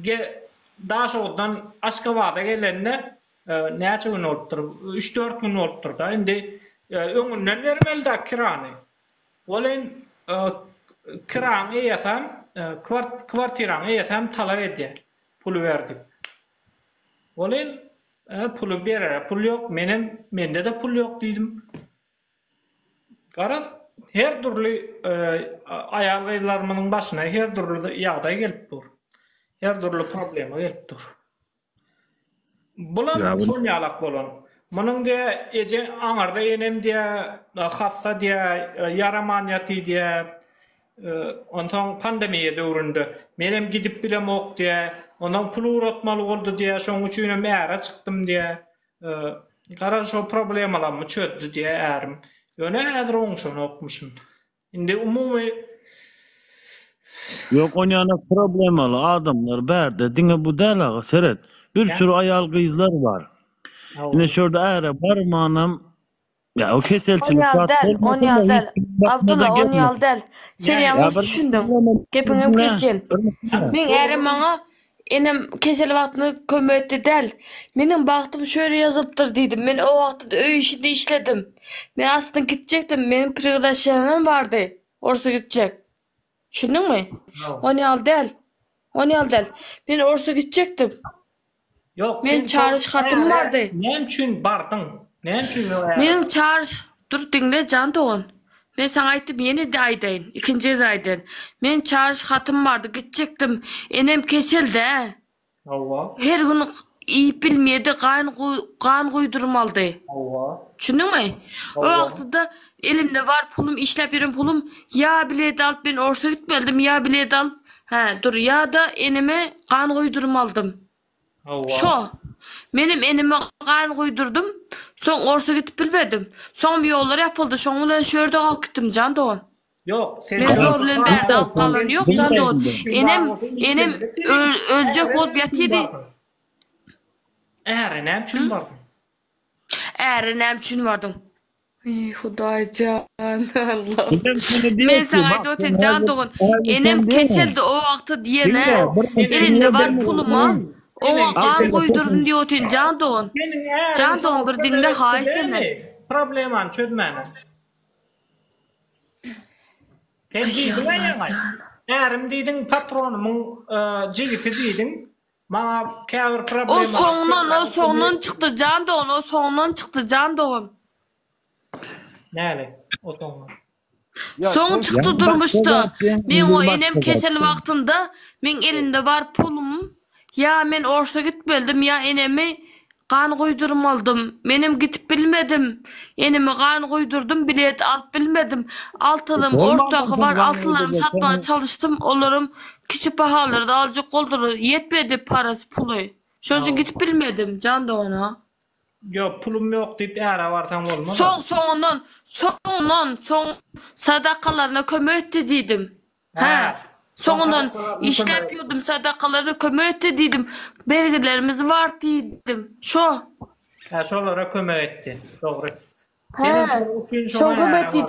Ge, Daşoguzdan Aşgabada gelenine näçe gün bolupdyr? Üç-dört gün bolupdyr-da. Indi öňünden bermeli-dä kirany. Welin, kiraň eýesem, kwartiraň eýesem talap edýär, puly ber diýip. Welin, puly berere pul ýok, menem, mende-de pul ýok diýdim. Garaz, her dürli aýal-gyzlarymyzyň başyna her dürli ýagdaý gelip dur. Her dürli problema gelip dur. Bulam şol ýalak bolan. Munuň diýýä, eje aňarda enem diýýä, hassa diýýä, ýaraman ýaty diýýä. Onsoň pandemiýa döwründe menem gidip bilemok diýýä. Onsoň pul ugratmaly boldy diýýä, şonuň üçinem äre çykdym diýýä. Gara şo problemalamy çözdi diýä ärim. Ýöne häzir oňşanokmyşyn. Indi umumy Ýok onýana problemaly adamlar bärde diňe bu däl aga seret. Bir süri aýal gyzlar bar. Ine şurda äre barmanam Ya o keselçilik Onýal zat däl, bolmasa onýal da däl. hiç kim bakmadan Abdulla, onýal gelmez. däl. Sen Ýa ýalňyş bir düşündiň. Gepiňem düşünme, kesýän. bir düşünme. Meň ärem maňa enem kesel wagtynda kömek etdi däl. Meniň bagtym şöýle ýazylypdyr diýdim. Men o wagtda öý işinde işledim. Men aslynda gitjekdim. Meniň priglaşeniýam bardy. Orsa gitjek. Düşündiňmi? Ony ýaly däl. Ony ýaly däl. Men orsa gitjekdim. Ýok, Men çaryş hatym bardy. Näme üçin bardyň? Näme üçin men äre? Meniň çaryş Dur diňle jan dogan. Men saňa aýtdym, ýene-de aýdaýyn. Ikinji gez aýdaýyn. Men çaryş hatym bardy, gitjekdim. Enem kesel-dä. Hawa. Her gün iýip bilmeýdi, gan gan guýdurmalydy. Hawa. Düşündiňmi? O wagtyda elimde bar pulum, işläp ýören pulum, ýa bilet alyp men orsa gitmelidim, ýa bilet alyp, hä, dur, ýa-da eneme gan guýdurmalydym. Hawa. Şo. Menem eneme gan guýdurdym, soň orsa gidip bilmedim. Soňam ýollar ýapyldy, şoň bilen şu ýerde galyp gitdim jan dogan. Ýok, sen Men zor bilen bärde alyp galan ýok, jan dogan. Enem, enem öljek bolup ýatydy. Äre näme üçin bardyň? Äre näme üçin bardyň? Eý, Hudaýjan, Allahym. Men saňa aýdyp otyryn, jan dogan. Enem keseldi o wagty diýen-ä. Elimde bar puluma oňa gan guýdurdym diýip otyryn, jan dogan. Jan dogan, bir diňle haýyş senden. Problemany çözmäne. Sen diýdiň aýaňa. Ärim diýdiň patronymyň jigisi diýdiň. Maňa käbir problemalar. O soňdan, o soňdan çykdy jan dogan, o soňdan çykdy jan dogan. Näle? O soňdan. Soň çykdy durmuşda. Men o enem kesel wagtynda men elimde bar pulum, Ýa men orsa gitmeldim ýa enemi gan guýdurmalydym. Menem gidip bilmedim. Enemi gan guýdurdym, bilet alyp bilmedim. Altylym ortaky bar altylarymy satmaga çalyşdym, olaram kiçi pahalarda aljak boldular. Ýetmedi parasy, puly. Şonuň üçin gidip bilmedim, jan dogan-a. Ýok, pulum ýok diýip äre barsaň bolmaz-a. Soň, soňundan, soňundan, soň sadakalaryna kömek etdi diýdim. Hä, soňundan işläp ýördüm, sadakalara kömek etdi diýdim, bergilerimiz bar diýdim. Şo. Hä, şolara kömek etdi. Dogry. Hä, şoňa kömek etdi.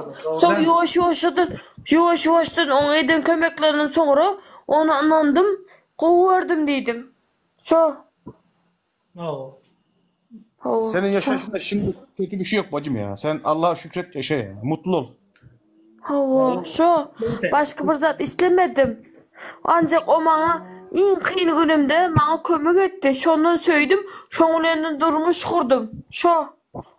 Soň ýuwaş-ýuwaşdan, ýuwaş-ýuwaşdan oňa eden kömeklerinden soňra ony ynandym, gowy gördüm diýdim. Şo. Hawa. Hawa. Seniň ýaşaýşyňda şimdi kötü bir şey yok bacım ya. Sen Allah'a şükret yaşa ya. Mutlu ol. Hawa, şu başga bir zat islemedim. Ancak o maňa iň kyn günümde maňa kömek etdi. Şondan söýdüm, şoň bilen durmuş gurdum. Şo.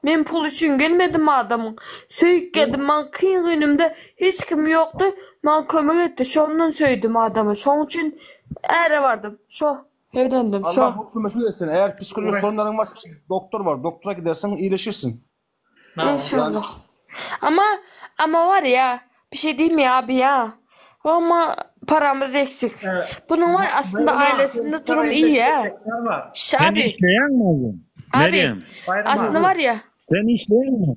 Men pul üçin gelmedim adamyň. Söýüp geldim. Maňa kyn günümde hiç kim ýokdy. Maňa kömek etdi. Şondan söýdüm adamy. Şoň üçin äre bardym. Şo. Öýrendim şo. Allah hökümeti etsin. Eger psikolog sorunlaryň bolsa doktor bar. Doktora gidersiň, iýleşirsiň. Inşallah. Ama ama bar ya bir şey diyme ya abi ya. Ama paramız eksik. Bunun var aslında ailesinde durum iyi ya. Şabi. Abi. Abi. Aslında var ya. Sen işleýäňmi?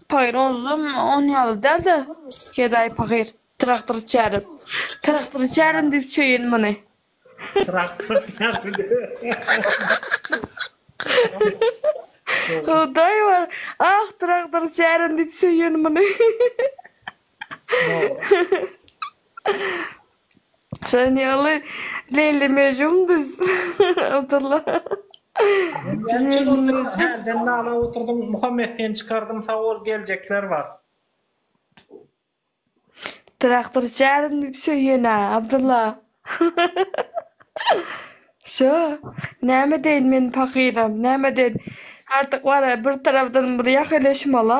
Pahyr ozüm on ýaly däl-de, gedaý pahyr, traktor çärim. Traktor çärim diýip söýün muny. Traktor çärim diýip. Hudaý bar, ah, traktor çärim diýip söýün muny. Sen ýaly Leyli Mejum biz Abdullah. Hälden nala oturdyň Muhammet seni çykardyň sag bol geljekler bar. Traktor çärin diýip söýýenä Abdulla. Şo, näme deýin men pakyram, näme deýin. Artyk bar-a bir tarapdan bir ýaheleşmala.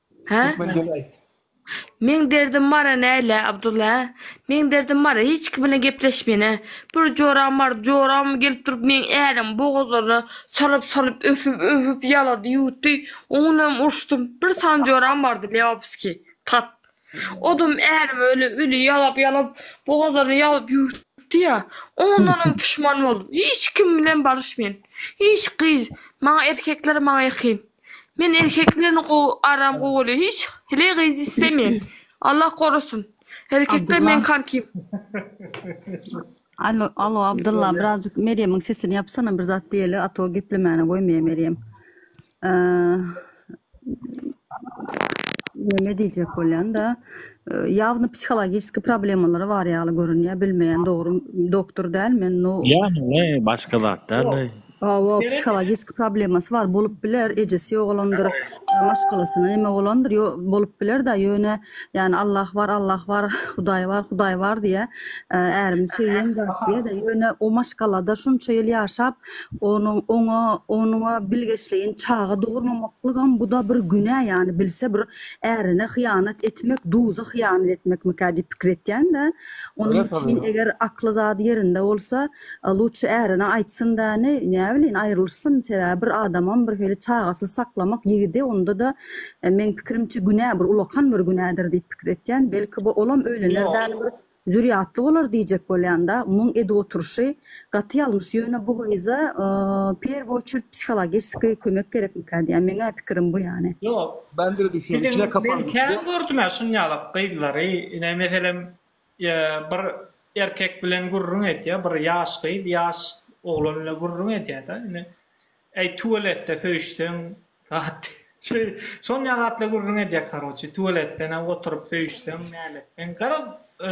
Hä? Türkmen dili aýt. Meň derdim bara näle Abdulla hä? Meň derdim bara hiç kim bilen gepleşmene. Bir joram bar, joram gelip durup meň äriň bogazlaryna salyp salyp öpüp öpüp ýalady ýuwutdy, oňunam urşdym. Bir sany joram bardy Leopski, tat. Odam ärimi öle öli ýalap ýalap bogazlaryny ýalyp ýuwutdy ýa. Oňundanam puşman boldum. Hiç kim bilen baryşmaýan. Hiç gyz, maňa erkekler maňa ýakyn. Men erkeklerni gowy aram gowaly hiç hili gyz istemeýän Allah gorasyn erkekler men karkim. Alo alo Abdylla birazjyk Merýemiň sesini ýapsana bir zat diýeli a to geplemäne goýmaýa Merýem. Neme diýjek bolýanda ýawny psihologiski problemalary bar ýaly görünýä bilmeýän dogry doktor däl men no. Ýa hine başga zat däl. Hawa psihologiki problemasy bar bolup biler ejesi ýogalandyr maşgalasyna neme bolandyr ýo bolup bilerda ýöne ýani Allah bar Allah bar Hudaý bar Hudaý bar diýýä ärimi söýýän zat diýýäda ýöne o maşgalada şunça ýyl ýaşap onuň oňa onuňa bilgeşleýin çaga dogurmamaklygam buda bir günä ýani bilse bir ärine hyýanat etmek duza hyýanat etmekmikä diýip pikir etýända onuň üçin eger akly zady ýerinde bolsa A lutşy ärine aýtsyn-da, ne, näbilin, aýrylyşsyn, sebäbi bir adamam bir hili çagasyz saklamak ýigidi, onda-da, meň pikirimçe, günä, bir ulakan bir günädir diýip pikir etýän. Belki, bu olam öýlener däl bir zürýatly bolar diýjek bolýan-da, muň edip oturyşy gaty ýalňyş, ýöne bu gyza w perw oçert psihologeçeskiý kömek gerekmikä diýýän, meň-ä pikirim bu ýany. Ýok, biziň, men kän gördüm-ä şuny ýalak gyzlary, ine, meselem, bir erkek bilen gürrüň edýär, bir ýaş gyz ýaş oglan bilen gürrüň edýär-de, indi, Äý, tualetde söýüşseň gaty. Şonja gatly gürrüň edýär, karoçi, tualetde näme oturyp söýüşseň näletseň. Garaz,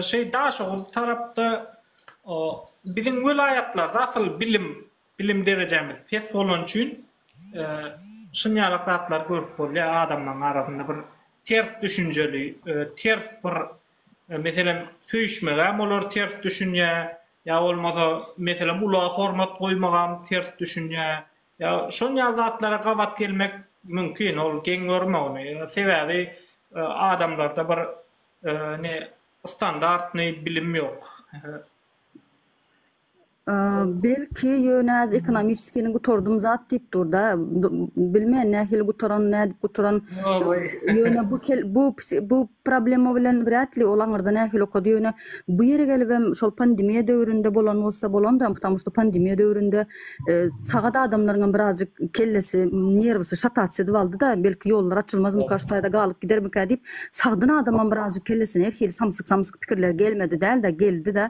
şeý Daşoguz tarapda, o, biziň welaýatlarda asyl bilim, bilim derejämiz pes bolany üçin, şunjalak zatlary görüp bolýar, adamlaryň arasynda bir ters düşünjeli, ters bir Meselem, söýüşmegem olar ters düşünýär, ýa bolmasa, meselem, ulaga hormat goýmagam ters düşünýär. Ýa şon ýaly zatlara gabat gelmek mümkin, ol geň görme ony. Sebäbi adamlarda bir ne standartnyý bilim ýok. Belki ýöne az ekonomiçiskini gutardym zat diýip durda. Bilmeýän nähili gutaran, nädip gutaran. Ýöne bu bu bu problema bilen wrýat li ol aňyrda nähili okady. Ýöne bu ýere gelibem şol pandemiýa döwründe bolan bolsa bolandam, ptamu şda pandemiýa döwründe sagat adamlaryňam birazjyk kellesi, nerwisy şatat şedip aldyda. Belki ýollar açylmazmyka, şu taýda galyp gidermika diýip sagdyn adamam birazjyk kellesine her hili samsyk-samsyk pikirler gelmedi däl-de, geldi-de.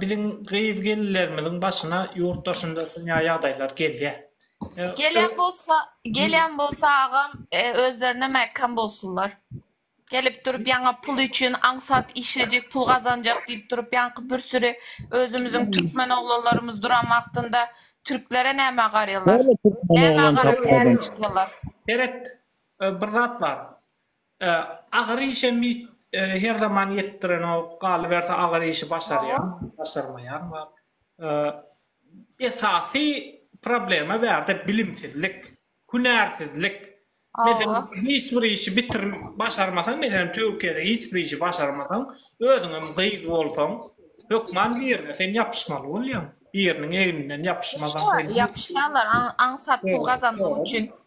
Biziň gyz-gelinlerimiziň başyna ýurt daşynda dünýä ýagdaýlar gelýär. Gelen bolsa, gelen bolsa agam, özlerine mäkäm bolsunlar. Gelip durup ýaňa pul üçin aňsat işlejek, pul gazanjak diýip durup ýaňky bir süri özümiziň türkmen oglanlarymyz duran wagtynda türklere nämä garýarlar? Näme garap täze çykýarlar? Seret, bir zat bar. Agyr işem her zaman ýetdirenok, galyberse agyr işi başarýan, başarmaýan bar. Esasy problema bärde bilimsizlik, hünärsizlik. Meselem, hiç bir işi bitir, başarmasaň, meselem, Türkiýede hiç bir işi başarmasaň, özüňem gyz bolsaň, hökman birine sen ýapyşmaly bolýaň. Biriniň egninden ýapyşmasaň. Ýapyşýarlar, aňsat pul gazanmak üçin.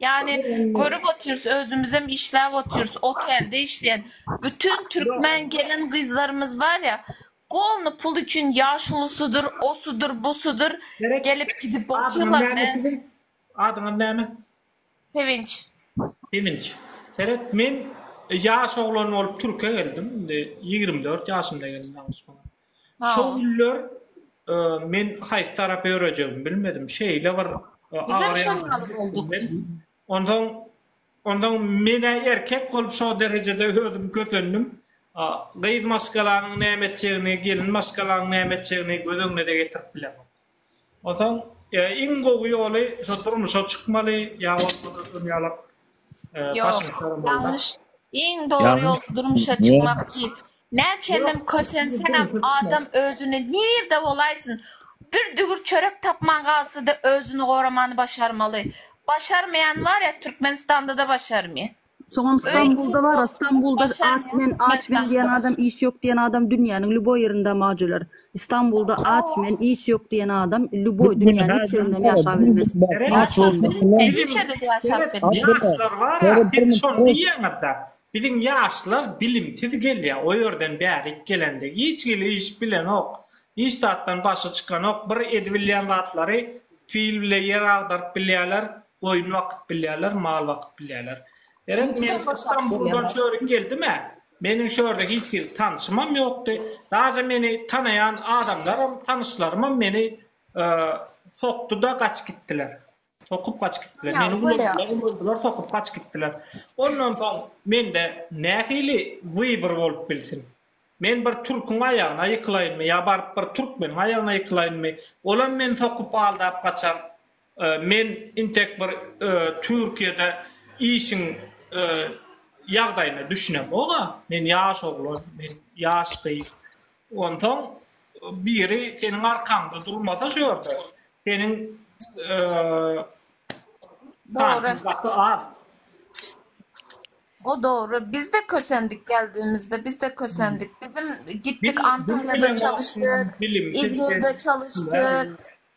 Ýagny görüp otyrys özümizem işläp otyrys otelde işleýän bütün türkmen gelin gyzlarymyz barýa polny pul üçin ýaşulusydyr osudyr busudyr gelip gidip otyrlar men Adyňyz näme? Sevinç. Sevinç. Seret men ýaş oglan bolup türke geldim indi ýigrimi dört ýaşymda geldim ýalňyşmasaň. Şo günler men haýsy tarapa ýörejegimi bilmedim. Şeýle bir agyrýandyr üstümden. Onsoň, onsoň men-ä erkek bolup şo derejede özüm kösendim. Gyz maşgalanyň näme etjegini, gelin maşgalanyň näme etjegini göz öňüne-de getirip bilemok. Onsoň iň gowy ýoly şo durmuşa çykmaly ýa bolmasa şuny ýalak başyňy saramaly. Iň dogry ýol durmuşa çykmak diýip näçenem kösenseňem adam özüni nirde bolaýsyn bir dügür çörek tapman galsada özüni goramany başarmaly. Başarmaýany barýa Türkmenistandada başarmaýa. Soňam Stambulda bara, Stambulda aç men, aç men diýen adam, iş ýok diýen adam dünýäniň lýuboý ýerinde majular. Stambulda aç men, iş ýok diýen adam lýuboý dünýäniň hiç ýerindem ýaşap bilmez. Ýaşlar bar-a, siz şony diýýäňiz-dä, biziň ýaşlar bilimsiz gelýär, o ýerden bärik gelende hiç hili iş bilenok, hiç zatdan başy çykanok, bir edibilýän zatlary pil bile ýer agdaryp bilýärler, Goýun bakyp bilýärler, mal bakyp bilýärler. Gerek men Stambuldan çörük geldimä, meniň şu ýerde hiç hili tanşymam ýokdy. Daže meni tanaýan adamlaram, tanyşlarymam meni sokdy-da gaçyp gitdiler. Sokup gaçyp gitdiler. Meni ulandylar, ulandylar, sokup gaçyp gitdiler. Ondan soň mende nähili wybor bolup bilsin? Men bir türküň aýagyna ýykylaýynmy ýa baryp bir türkmeniň aýagyna ýykylaýynmy? Olam meni sokup aldap gaçar. Men intek bir Türkiýede işiň ýagdaýyna düşünemog-a. Men ýaş oglan, men ýaş gyz. Onsoň biri seniň arkaňda durmasa şu ýerde, seniň şansyň gaty az. O dogry. Biz-de kösendik geldigimizde, biz-de kösendik. Biziň gitdik Antalyýada çalyşdyk, Izmirde çalyşdyk.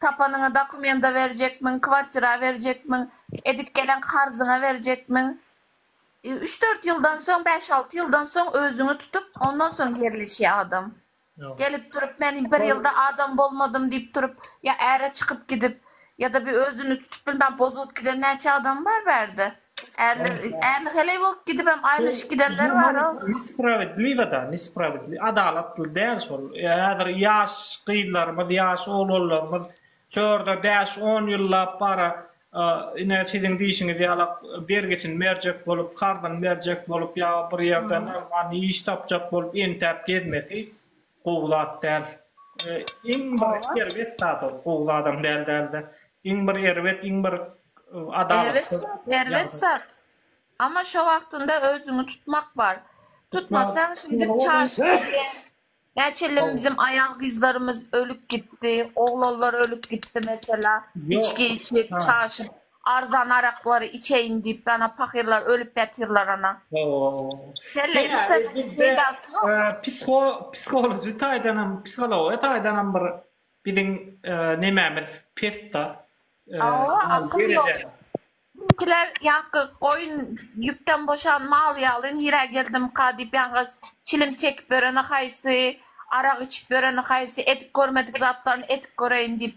Tapanyňy dokumenta berjekmiň, kwartira berjekmiň, edip gelen karzyňa berjekmiň. Üç-dört ýyldan soň, bäş-alty ýyldan soň özüňi tutup, ondan soň ýerleşýär adam. Gelip durup, men bir ýylda adam bolmadym diýip durup, ýa äre çykyp gidip, ýa-da bir özüni tutup bilmän bozulyp giden näçe adam bar bärde. Ärli, ärli heleý bolup gidibem aýrylyşyp gidenler bar o. Nespravedliwa da, nespravedli, adalatly däl şol. Häzir ýaş gyzlarymyz, ýaş oglanlarymyz şu ýerde bäş, on ýyllap bara ine siziň diýşiňiz ýala bergisini berjek bolup, karzyny berjek bolup ýa bir ýerden ylman iş tapjak bolup entäp gezmesi Gowy zat däl. Iň bir erbet zat ol. Gowy zadam däl dälde. Iň bir erbet, iň bir adalatsyz. Erbet zat, erbet zat. Amma şo wagtynda özüňi tutmak bar. Tutmasaň şeýdip çaşyp gidýäň. Näçelim biziň aýal-gyzlarymyz ölüp gitdi, oglanlar ölüp gitdi mesela, içgi içip, çaşyp. Arzan araklary içeýin diýip ana pahyrlar ölüp ýatyrlar ana. Kelle işlemegiň peýdasy ýok. Psiko psikoloji taýdanam psikologiýa taýdanam bir biziň nemämiz pesda. Hawa akyl ýok. Bizimkiler ýaňky goýun ýüpden boşan mal ýaly nirä geldimika diýip ýalňyz çilim çekip ýöreni haýsy, arak içip ýöreni haýsy, edip görmedik zatlaryny edip göreýin diýip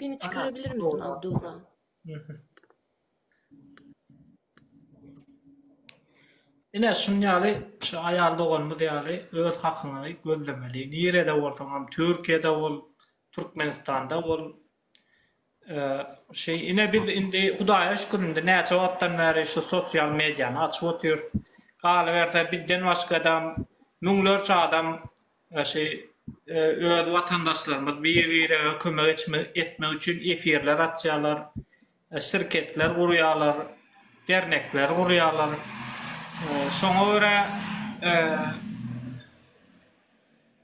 Beni çykarabilir misin Abdulla? Ine şuň ýaly şu aýal doganymyz ýaly öz hakyňy gözlemeli. Nirede bolsaňam Türkiýede bol, Türkmenistanda bol. Şeý, ine biz indi Hudaýa şükür indi näçe wagtdan bäri şu sosial mediany açyp otyrys. Galyberse bizden başgada müňlerçe adam şeý öz watandaşlarymyz bir-birege kömek etmek üçin efirler açýarlar, şirketler gurýarlar, dernekler gurýarlar. Şoňa görä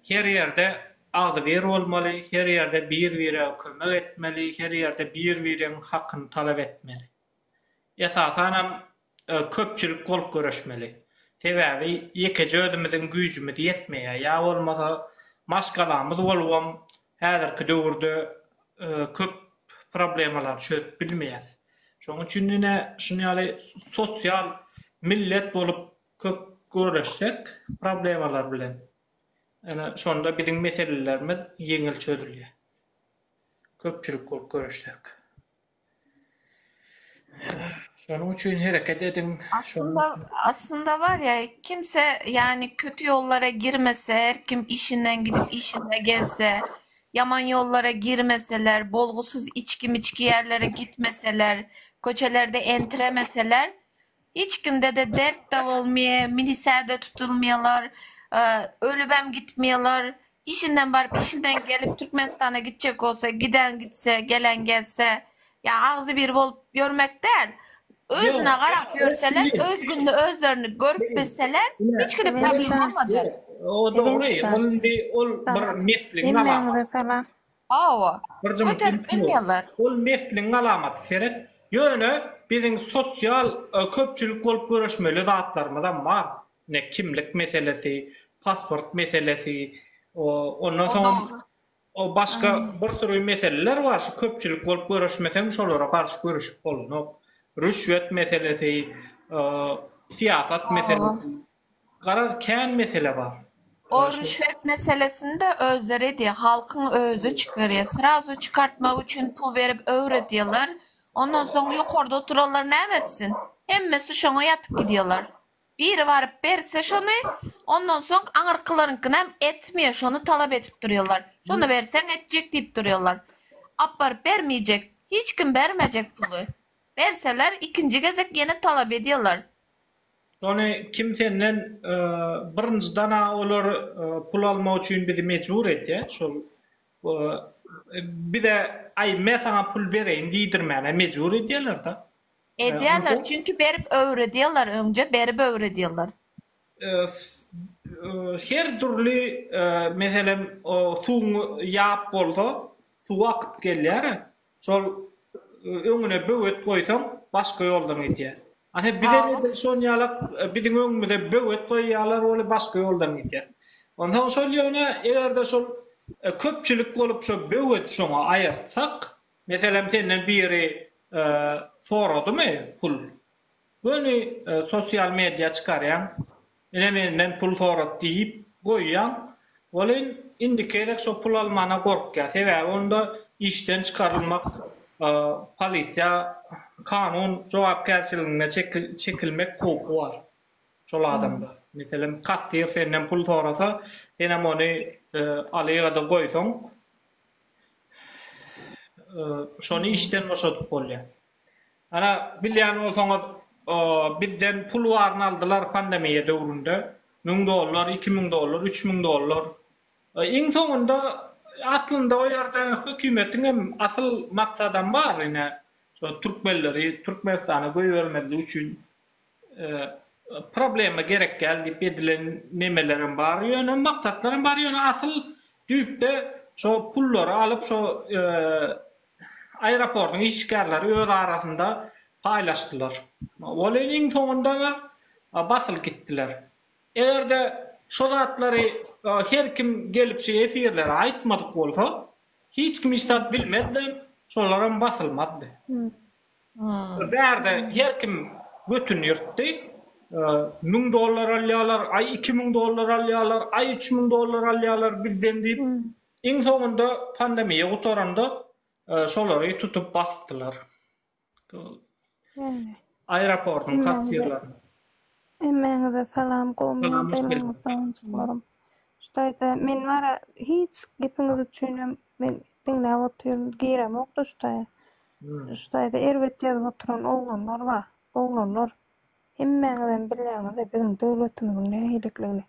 Her ýerde agzybir bolmaly, her ýerde bir-bire kömek etmeli, her ýerde bir-biriň hakyny talap etmeli. Esasanam köpçülik bolup göreşmeli. Sebäbi ýekeje özümiziň güýjümiz ýetmeýär. Ýa bolmasa maşgalamyz bolubam häzirki döwürde köp problemalary çözüp bilmeýäs. Şonuň üçin ine şuny ýaly sosial millet bolup köp görüşsek problemalar bilen ene şonda biziň meselelerimiz ýeňil çözülýär köpçülik bolup görüşsek şonuň üçin hereket ediň aslynda aslynda bar ya kimse yani kötü yollara girmese her kim işinden gidip işine gelse yaman yollara girmeseler bolgusuz içki miçki yerlere gitmeseler köçelerde entremeseler Hiç kimdede dertde bolmye, milisäde tutulmyalar, ölübem gitmyalar, işinden baryp işinden gelip Türkmenistana gitjek bolsa giden gitse gelen gelse ya agzybir bolup ýörmek däl özüne garap ýörseler öz gününi özlerini görüp bilseler hiç kime problem bolmaz. O dogry ol indi ol bir mesligiň alamat. Hawa. Bir jymy Göterip ilki ýok. bilmeýärler. Ol mesliň alamaty seret. Ýöne biziň sosial köpçülik bolup göreşmeli zatlarymyzam bar. Ine kimlik meselesi, pasport meselesi, o ondan O soňam dogry. o başga Ynha. bir süri meseleler bar şu köpçülik bolup göreşmeseň şolara garşy göreşip bolunok. Rüşwet meselesi, o syýasat Hawa. meselesi. Garaz kän mesele bar. O rüşwet meselesinde özleri diýe halkyň özi çykarýa srazu çykartmak üçin pul berip öwredýalar ondan soň ýokarda oturanlar näme etsin hemmesi şoňa ýatyp gidýalar biri baryp berse şony ondan soň aňyrkylaryňkynam etmeýa şony talap edip durýalar şony berseň etjek diýip durýalar apbaryp bermeýjek hiç kim bermejek puly berseler ikinji gezek ýene talap edýalar Ony kim senden birinjidana olar pul almak üçin bizi mejbur etýä şol bize aý me saňa pul bereýin diýdirmäne mejbur edýälerda. Edýäler çünki berip öwredýäler öňje berip öwredýäler. Her dürli meselem suwuň ýap bolsa suw akyp gelýära Şol öňüne böwet goýsaň, başga ýoldan gidýär. Ane bize edil şon ýalak biziň öňümize böwet goýýarlar we başga ýoldan gidýär. Onsoň şol ýöne eger-de şol köpçülik bolup şo böwet şoňa aýyrtsak, meselem senden biri soradymy pul? Göni sosial media çykarýaň, ine menden pul sorat diýip goýýaň, welin indiki gezek şo pul almana gorkýar, sebäbi onda işden çykarylmak, polisiýa, kanun jogapkärçiligine çekilmek howpy bar şol adamda. Meselem, kassir senden pul sorasa, senem ony alyada goýsaň, şony işden boşadyp bolýar. Ana bilýän bolsaňyz bizden pul baryny aldylar pandemiýa döwründe müň dollar iki müň dollar üç müň dollar iň soňunda aslynda o ýerde hökümetiň hem asyl maksadam bar ine şo türkmenleri türkmenistana goýbermezlik üçin Problema gerek däl diýip edilen nemelerem bar ýöne maksatlaram bar ýöne asyl düýpde şo pullary alyp şo aeroportyň işgärleri öz arasynda paýlaşdylar. Welin iň soňundada basylyp gitdiler. Egerde şo zatlary her kim gelip şo efirlere aýtmadyk bolsa hiç kim hiç zat bilmezdi hem şolaram basylmazdy. Ol bärde her kim götüni ýyrtdy. Müň dollar alýarlar, aý iki müň dollar alýarlar, aý üç müň dollar alýarlar bizden diýip. Iň soňunda pandemiýa gutaranda şolary tutup basdylar. Aeroportyň kassirlerini. Hemmäňize salam gowy ýagdaýlaryňyzda onjuklarym. Şu taýda men wara hiç gepiňiz üçinem men diňläp otyryn giremokda şu taýa. Şu taýda erbet ýazyp oturan oglanlar bar. Oglanlar hemmäňizem bilýäňizde biziň döwletimiziň nähililigini.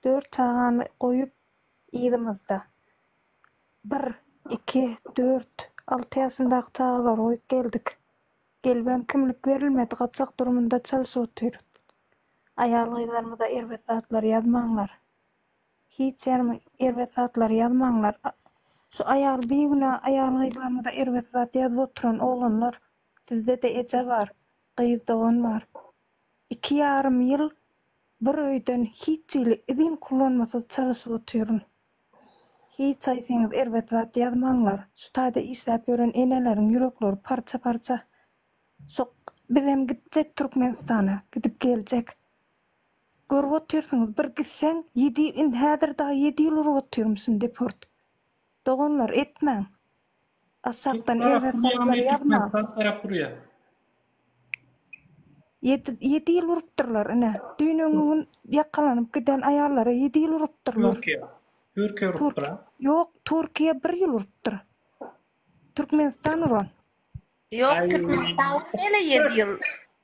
Dört çagany goýup yzymyzda bir, iki, dört, alty ýaşyndaky çagalary goýup geldik. Gelibem kimlik berilmedi gaçak durumynda çalyşyp otyrys. Aýal gyzlarymyza erbet zatlar ýazmaňlar. Hiç ýerime erbet zatlar ýazmaňlar. Şu aýal bigünä aýal gyzlarymyza erbet zat ýazyp oturan oglanlar sizde-de eje bar, gyz dogan bar. Iki ýarym ýyl bir öýden hiç hili izin kullanmasyz çalyşyp otyryn. Hiç haýsyňyz erbet zat ýazmaňlar. Şu taýda işläp ýören eneleriň ýürekleri parça parça. Şok. Bizem gitjek Türkmenistana. Gidip geljek. Görüp otyrsyňyz bir gitseň ýedi ýyl indi häzir dagy ýedi ýyl urup otyrmyşyn deport. Doganlar etmäň. Aşakdan erbet zatlary ýazma. Ýedi ýyl urupdyrlar ine. Düýn öňňi gün ýakalanyp giden aýallara ýedi ýyl urupdyrlar. Türkiýe. Türkiýe urupdyr a? Ýok, Türkiýe bir ýyl urupdyr. Türkmenistan uran. Ýok, Türkmenistan urmele ýedi ýyl.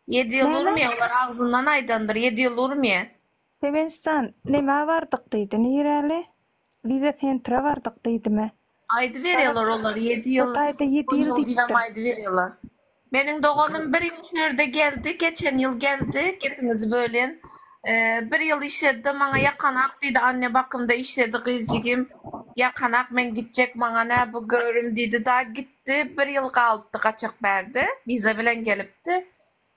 Ýedi ýyl urmýa, olar agzyndan aýdandyr, ýedi ýyl urmýa. Sewençjan, nämä bardyk diýdi, niräli? Wiza sentra bardyk diýdimä. Aýdyberýärler olar ýedi ýyl, Hytaýda ýedi on ýyl ýyl diýip hem diýipdir. aýdyberýärler. Meniň doganym bir ýyl şu ýerde geldi, geçen ýyl geldi, gepiňizi bölýän. Bir ýyl işledi-de, maňa ýakanak diýdi, anne bakymda işledi gyz jigim. Ýakanak, men gitjek, maňa nä bu göwrüm diýdi-da, gitdi. Bir ýyl galypdy gaçak bärde, wiza bilen gelipdi.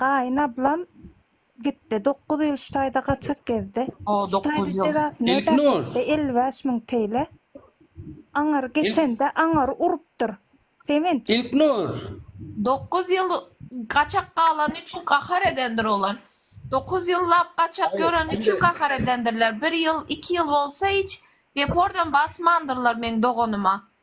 Gaýyn ablam gitdi dokuz ýyl şu taýda gaçak gezdi. Şu taýda jezasyny ödäp gitdi elli bäş müň teýle. Aňyr geçende aňyr urupdyr. Sevinç. Ilknur. Dokuz ýyl gaçak galany üçin gahar edendir olar. Dokuz ýyllap gaçak ýöreni üçin gahar edendirler. Bir ýyl, iki ýyl bolsa hiç depordam basmandyrlar meň doganyma.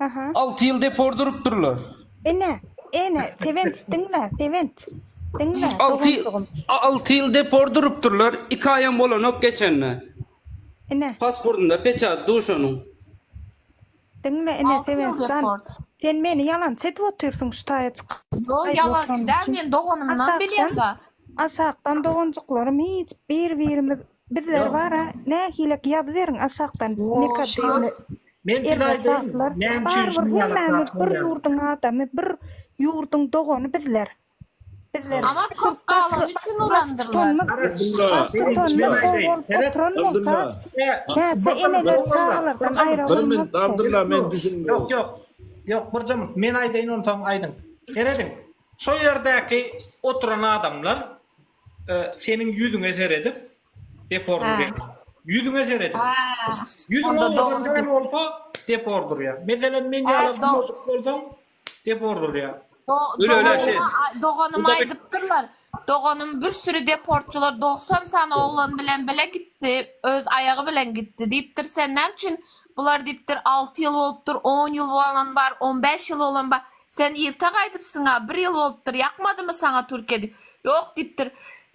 Aha. Alty ýyl depor durupdyrlar. Ene, ene, Sewenç, diňle, Sewenç. Diňle, Alty, doganjygym. a- alty ýyl depor durupdyrlar. Iki aýam bolanok geçende. Ene, Pasportynda peçat duşanyň. diňle, ene, Altı ýyl Sewenç jan. deport. Sen meni ýalançy edip otyrsyň şu taýa çykyp. Ýok, Aýdyp ýalançy oturan däl, üçin. men doganymdan Aşakdan- bilýän-la. Aşakdan doganjyklarym hiç bir-birimiz Bizler bara nähilek ýazyberiň aşakdan Mekademi Erwe Sagtlar barybir hemmämiz bir ýurduň adamy bir ýurduň dogany bizler bizler şu baştutanymyz baştutanymyz gowy bolup oturan bolsa näçe eneler çagalardan aýra bolmazdy. Ýok ýok ýok bir jymmyk men aýdaýyn onsoň aýdyň serediň şo ýerdäki oturan adamlar Seniň ýüzüňe seredip, defordyr ýa. Ýüzüňe seredip. Ýüzüň oňladygam bolsa, defordyr ýa. Meselem, men ýaly gymyljyk bolsaň, defordyr ýa. Doganyma aýdypdyrlar. Doganym bir süri defortçylar dogsan sany oglan bilen bile gitdi, öz aýagy bilen gitdi diýipdir. Sen näme üçin bular diýipdir, alty ýyl bolupdyr, on ýyl bolan bar, on bäş ýyl bolan bar. Sen irte gaýdypsyň-a, bir ýyl bolupdyr, ýakmadymy saňa türk edip? Ýok, diýipdir.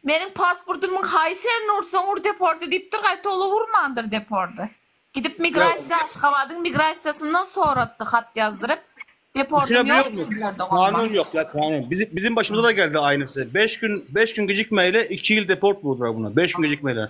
Meniň pasportymyň haýsy ýerini ursaň ur deporda diýipdir, gaýta ol-a urmandyr deporda. Gidip migrasiýa, Aşgabadyň migrasiýasyndan soratdy hat ýazdyryp, deportym ýok diýdiler doganma. Kanun ýok ýa kanun. Biz biziň başymyza-da geldi aýnysy. Beş gün, beş gün gijikmäýli iki ýyl deport buldura buna. Beş gün gijikmäýli.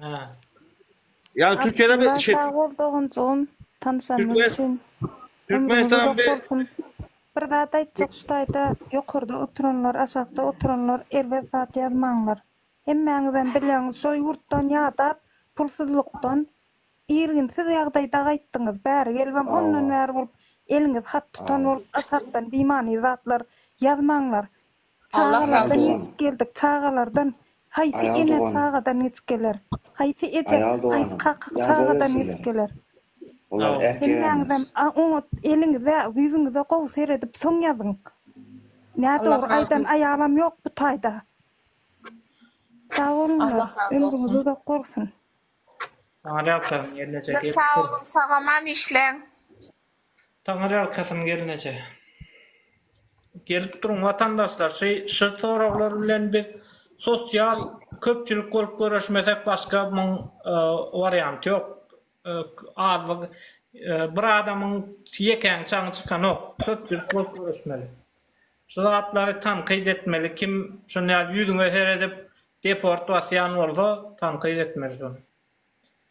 Ha. Yani Türkiye'de bir şey, Sag bol doganjygym, tanyşandygyň Türkmen- üçin. Türkmenistan Ömrüňiz bir- uzak bolsun. Bir zat aýtjak şu taýda ýokarda oturanlar, aşakda oturanlar erbet zat ýazmaňlar. Hemmäňizem bilýäňiz şo ýurtdan ýadap pulsuzlykdan irginsiz ýagdaýda gaýtdyňyz. Bäri gelibem ondan bäri bolup eliňiz hat tutan bolup aşakdan bimany zatlar ýazmaňlar. Allah razı Çagalardan olsun. geçip geldik, çagalardan. Haýsy Aýal ene doganym. çagadan geçip geler? Haýsy eje, Aýal haýsy doganym. kaka Ýaza çagadan bersin geçip seni. geler? Sag Olar ol. ähli Hemmäňizem ýalňyş. a oňat eliňize, ýüzüňize gowy seredip soň ýazyň. Nä Allah dogry razı aýdan olsun. aýalam ýok bu taýda. Sag bolunlar, Allah razı ömrüňiz olsun. uzak bolsun. Saňa ne ýapýaryn gelneje Köp gelip sag dur. boluň sagaman işleň. Taňyrýalkasyn gelneje. Gelip duruň watandaşlar şy soraglar bilen biz sosial köpçülik bolup göreşmesek başga muň warianty ýok azlyk bir adamyň ýekäň çaňy çykanok köpçülik bolup göreşmeli şy zatlary tankyt etmeli kim şuny ýüzüňe seredip deport basýan bolsa tankyt etmeli şony.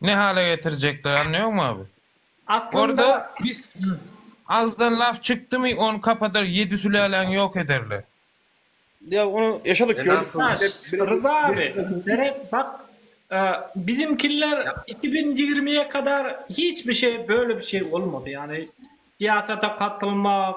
Ne hala getirjekler anlaýoňmy abi. Aslynda. Agzdan laf çykdymy ony kapadar ýedi süläläňi ýok ederler. Ýa ony ýaşadyk gördük. Ryza abi seret bak bizimkiler iki bin ýigrimiye kadar hiç bir şey böyle bir şey bolmady yani siyasete katylmak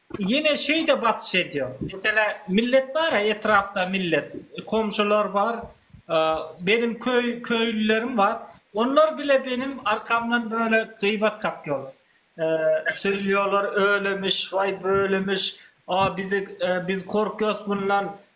Ýene şeýde basyş edýär. Meselä, millet bar-a, etrapda millet, komşular bar, benim köý, köýlülerim bar. Onlar bile benim arkamdan böyle gyýbat kakýarlar. Söýülýärler, öýlemiş, waý, böylemiş, a bizi, biz korkýarys bundan,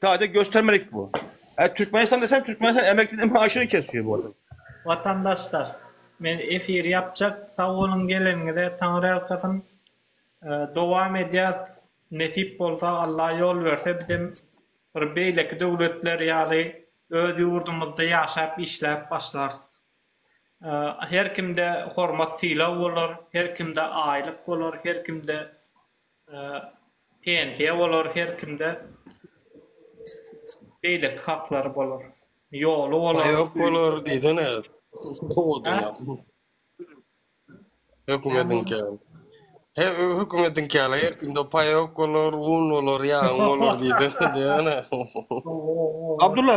Sadece göstermelik bu. Yani Türkmenistan desem Türkmenistan emeklilerin maaşını kesiyor bu adam. Watandaşlar men efir yapjak sagboluň geleniňize taňryýalkasyn dowam edýäs nesip bolsa Allah ýol berse bizem bir beýleki döwletler ýaly öz ýurdumyzda ýaşap işläp başlarys her kimde hormat sylag bolar her kimde aýlyk bolar her kimde Pensiýa bolar her kimde beýleki haklary bolar. Ýoly bolar. Baýok bolar diýsene. Hökümediňki. He hökümediňki ýaly her kimde paýok bolar, un bolar, ýagyň bolar diýsene. Abdulla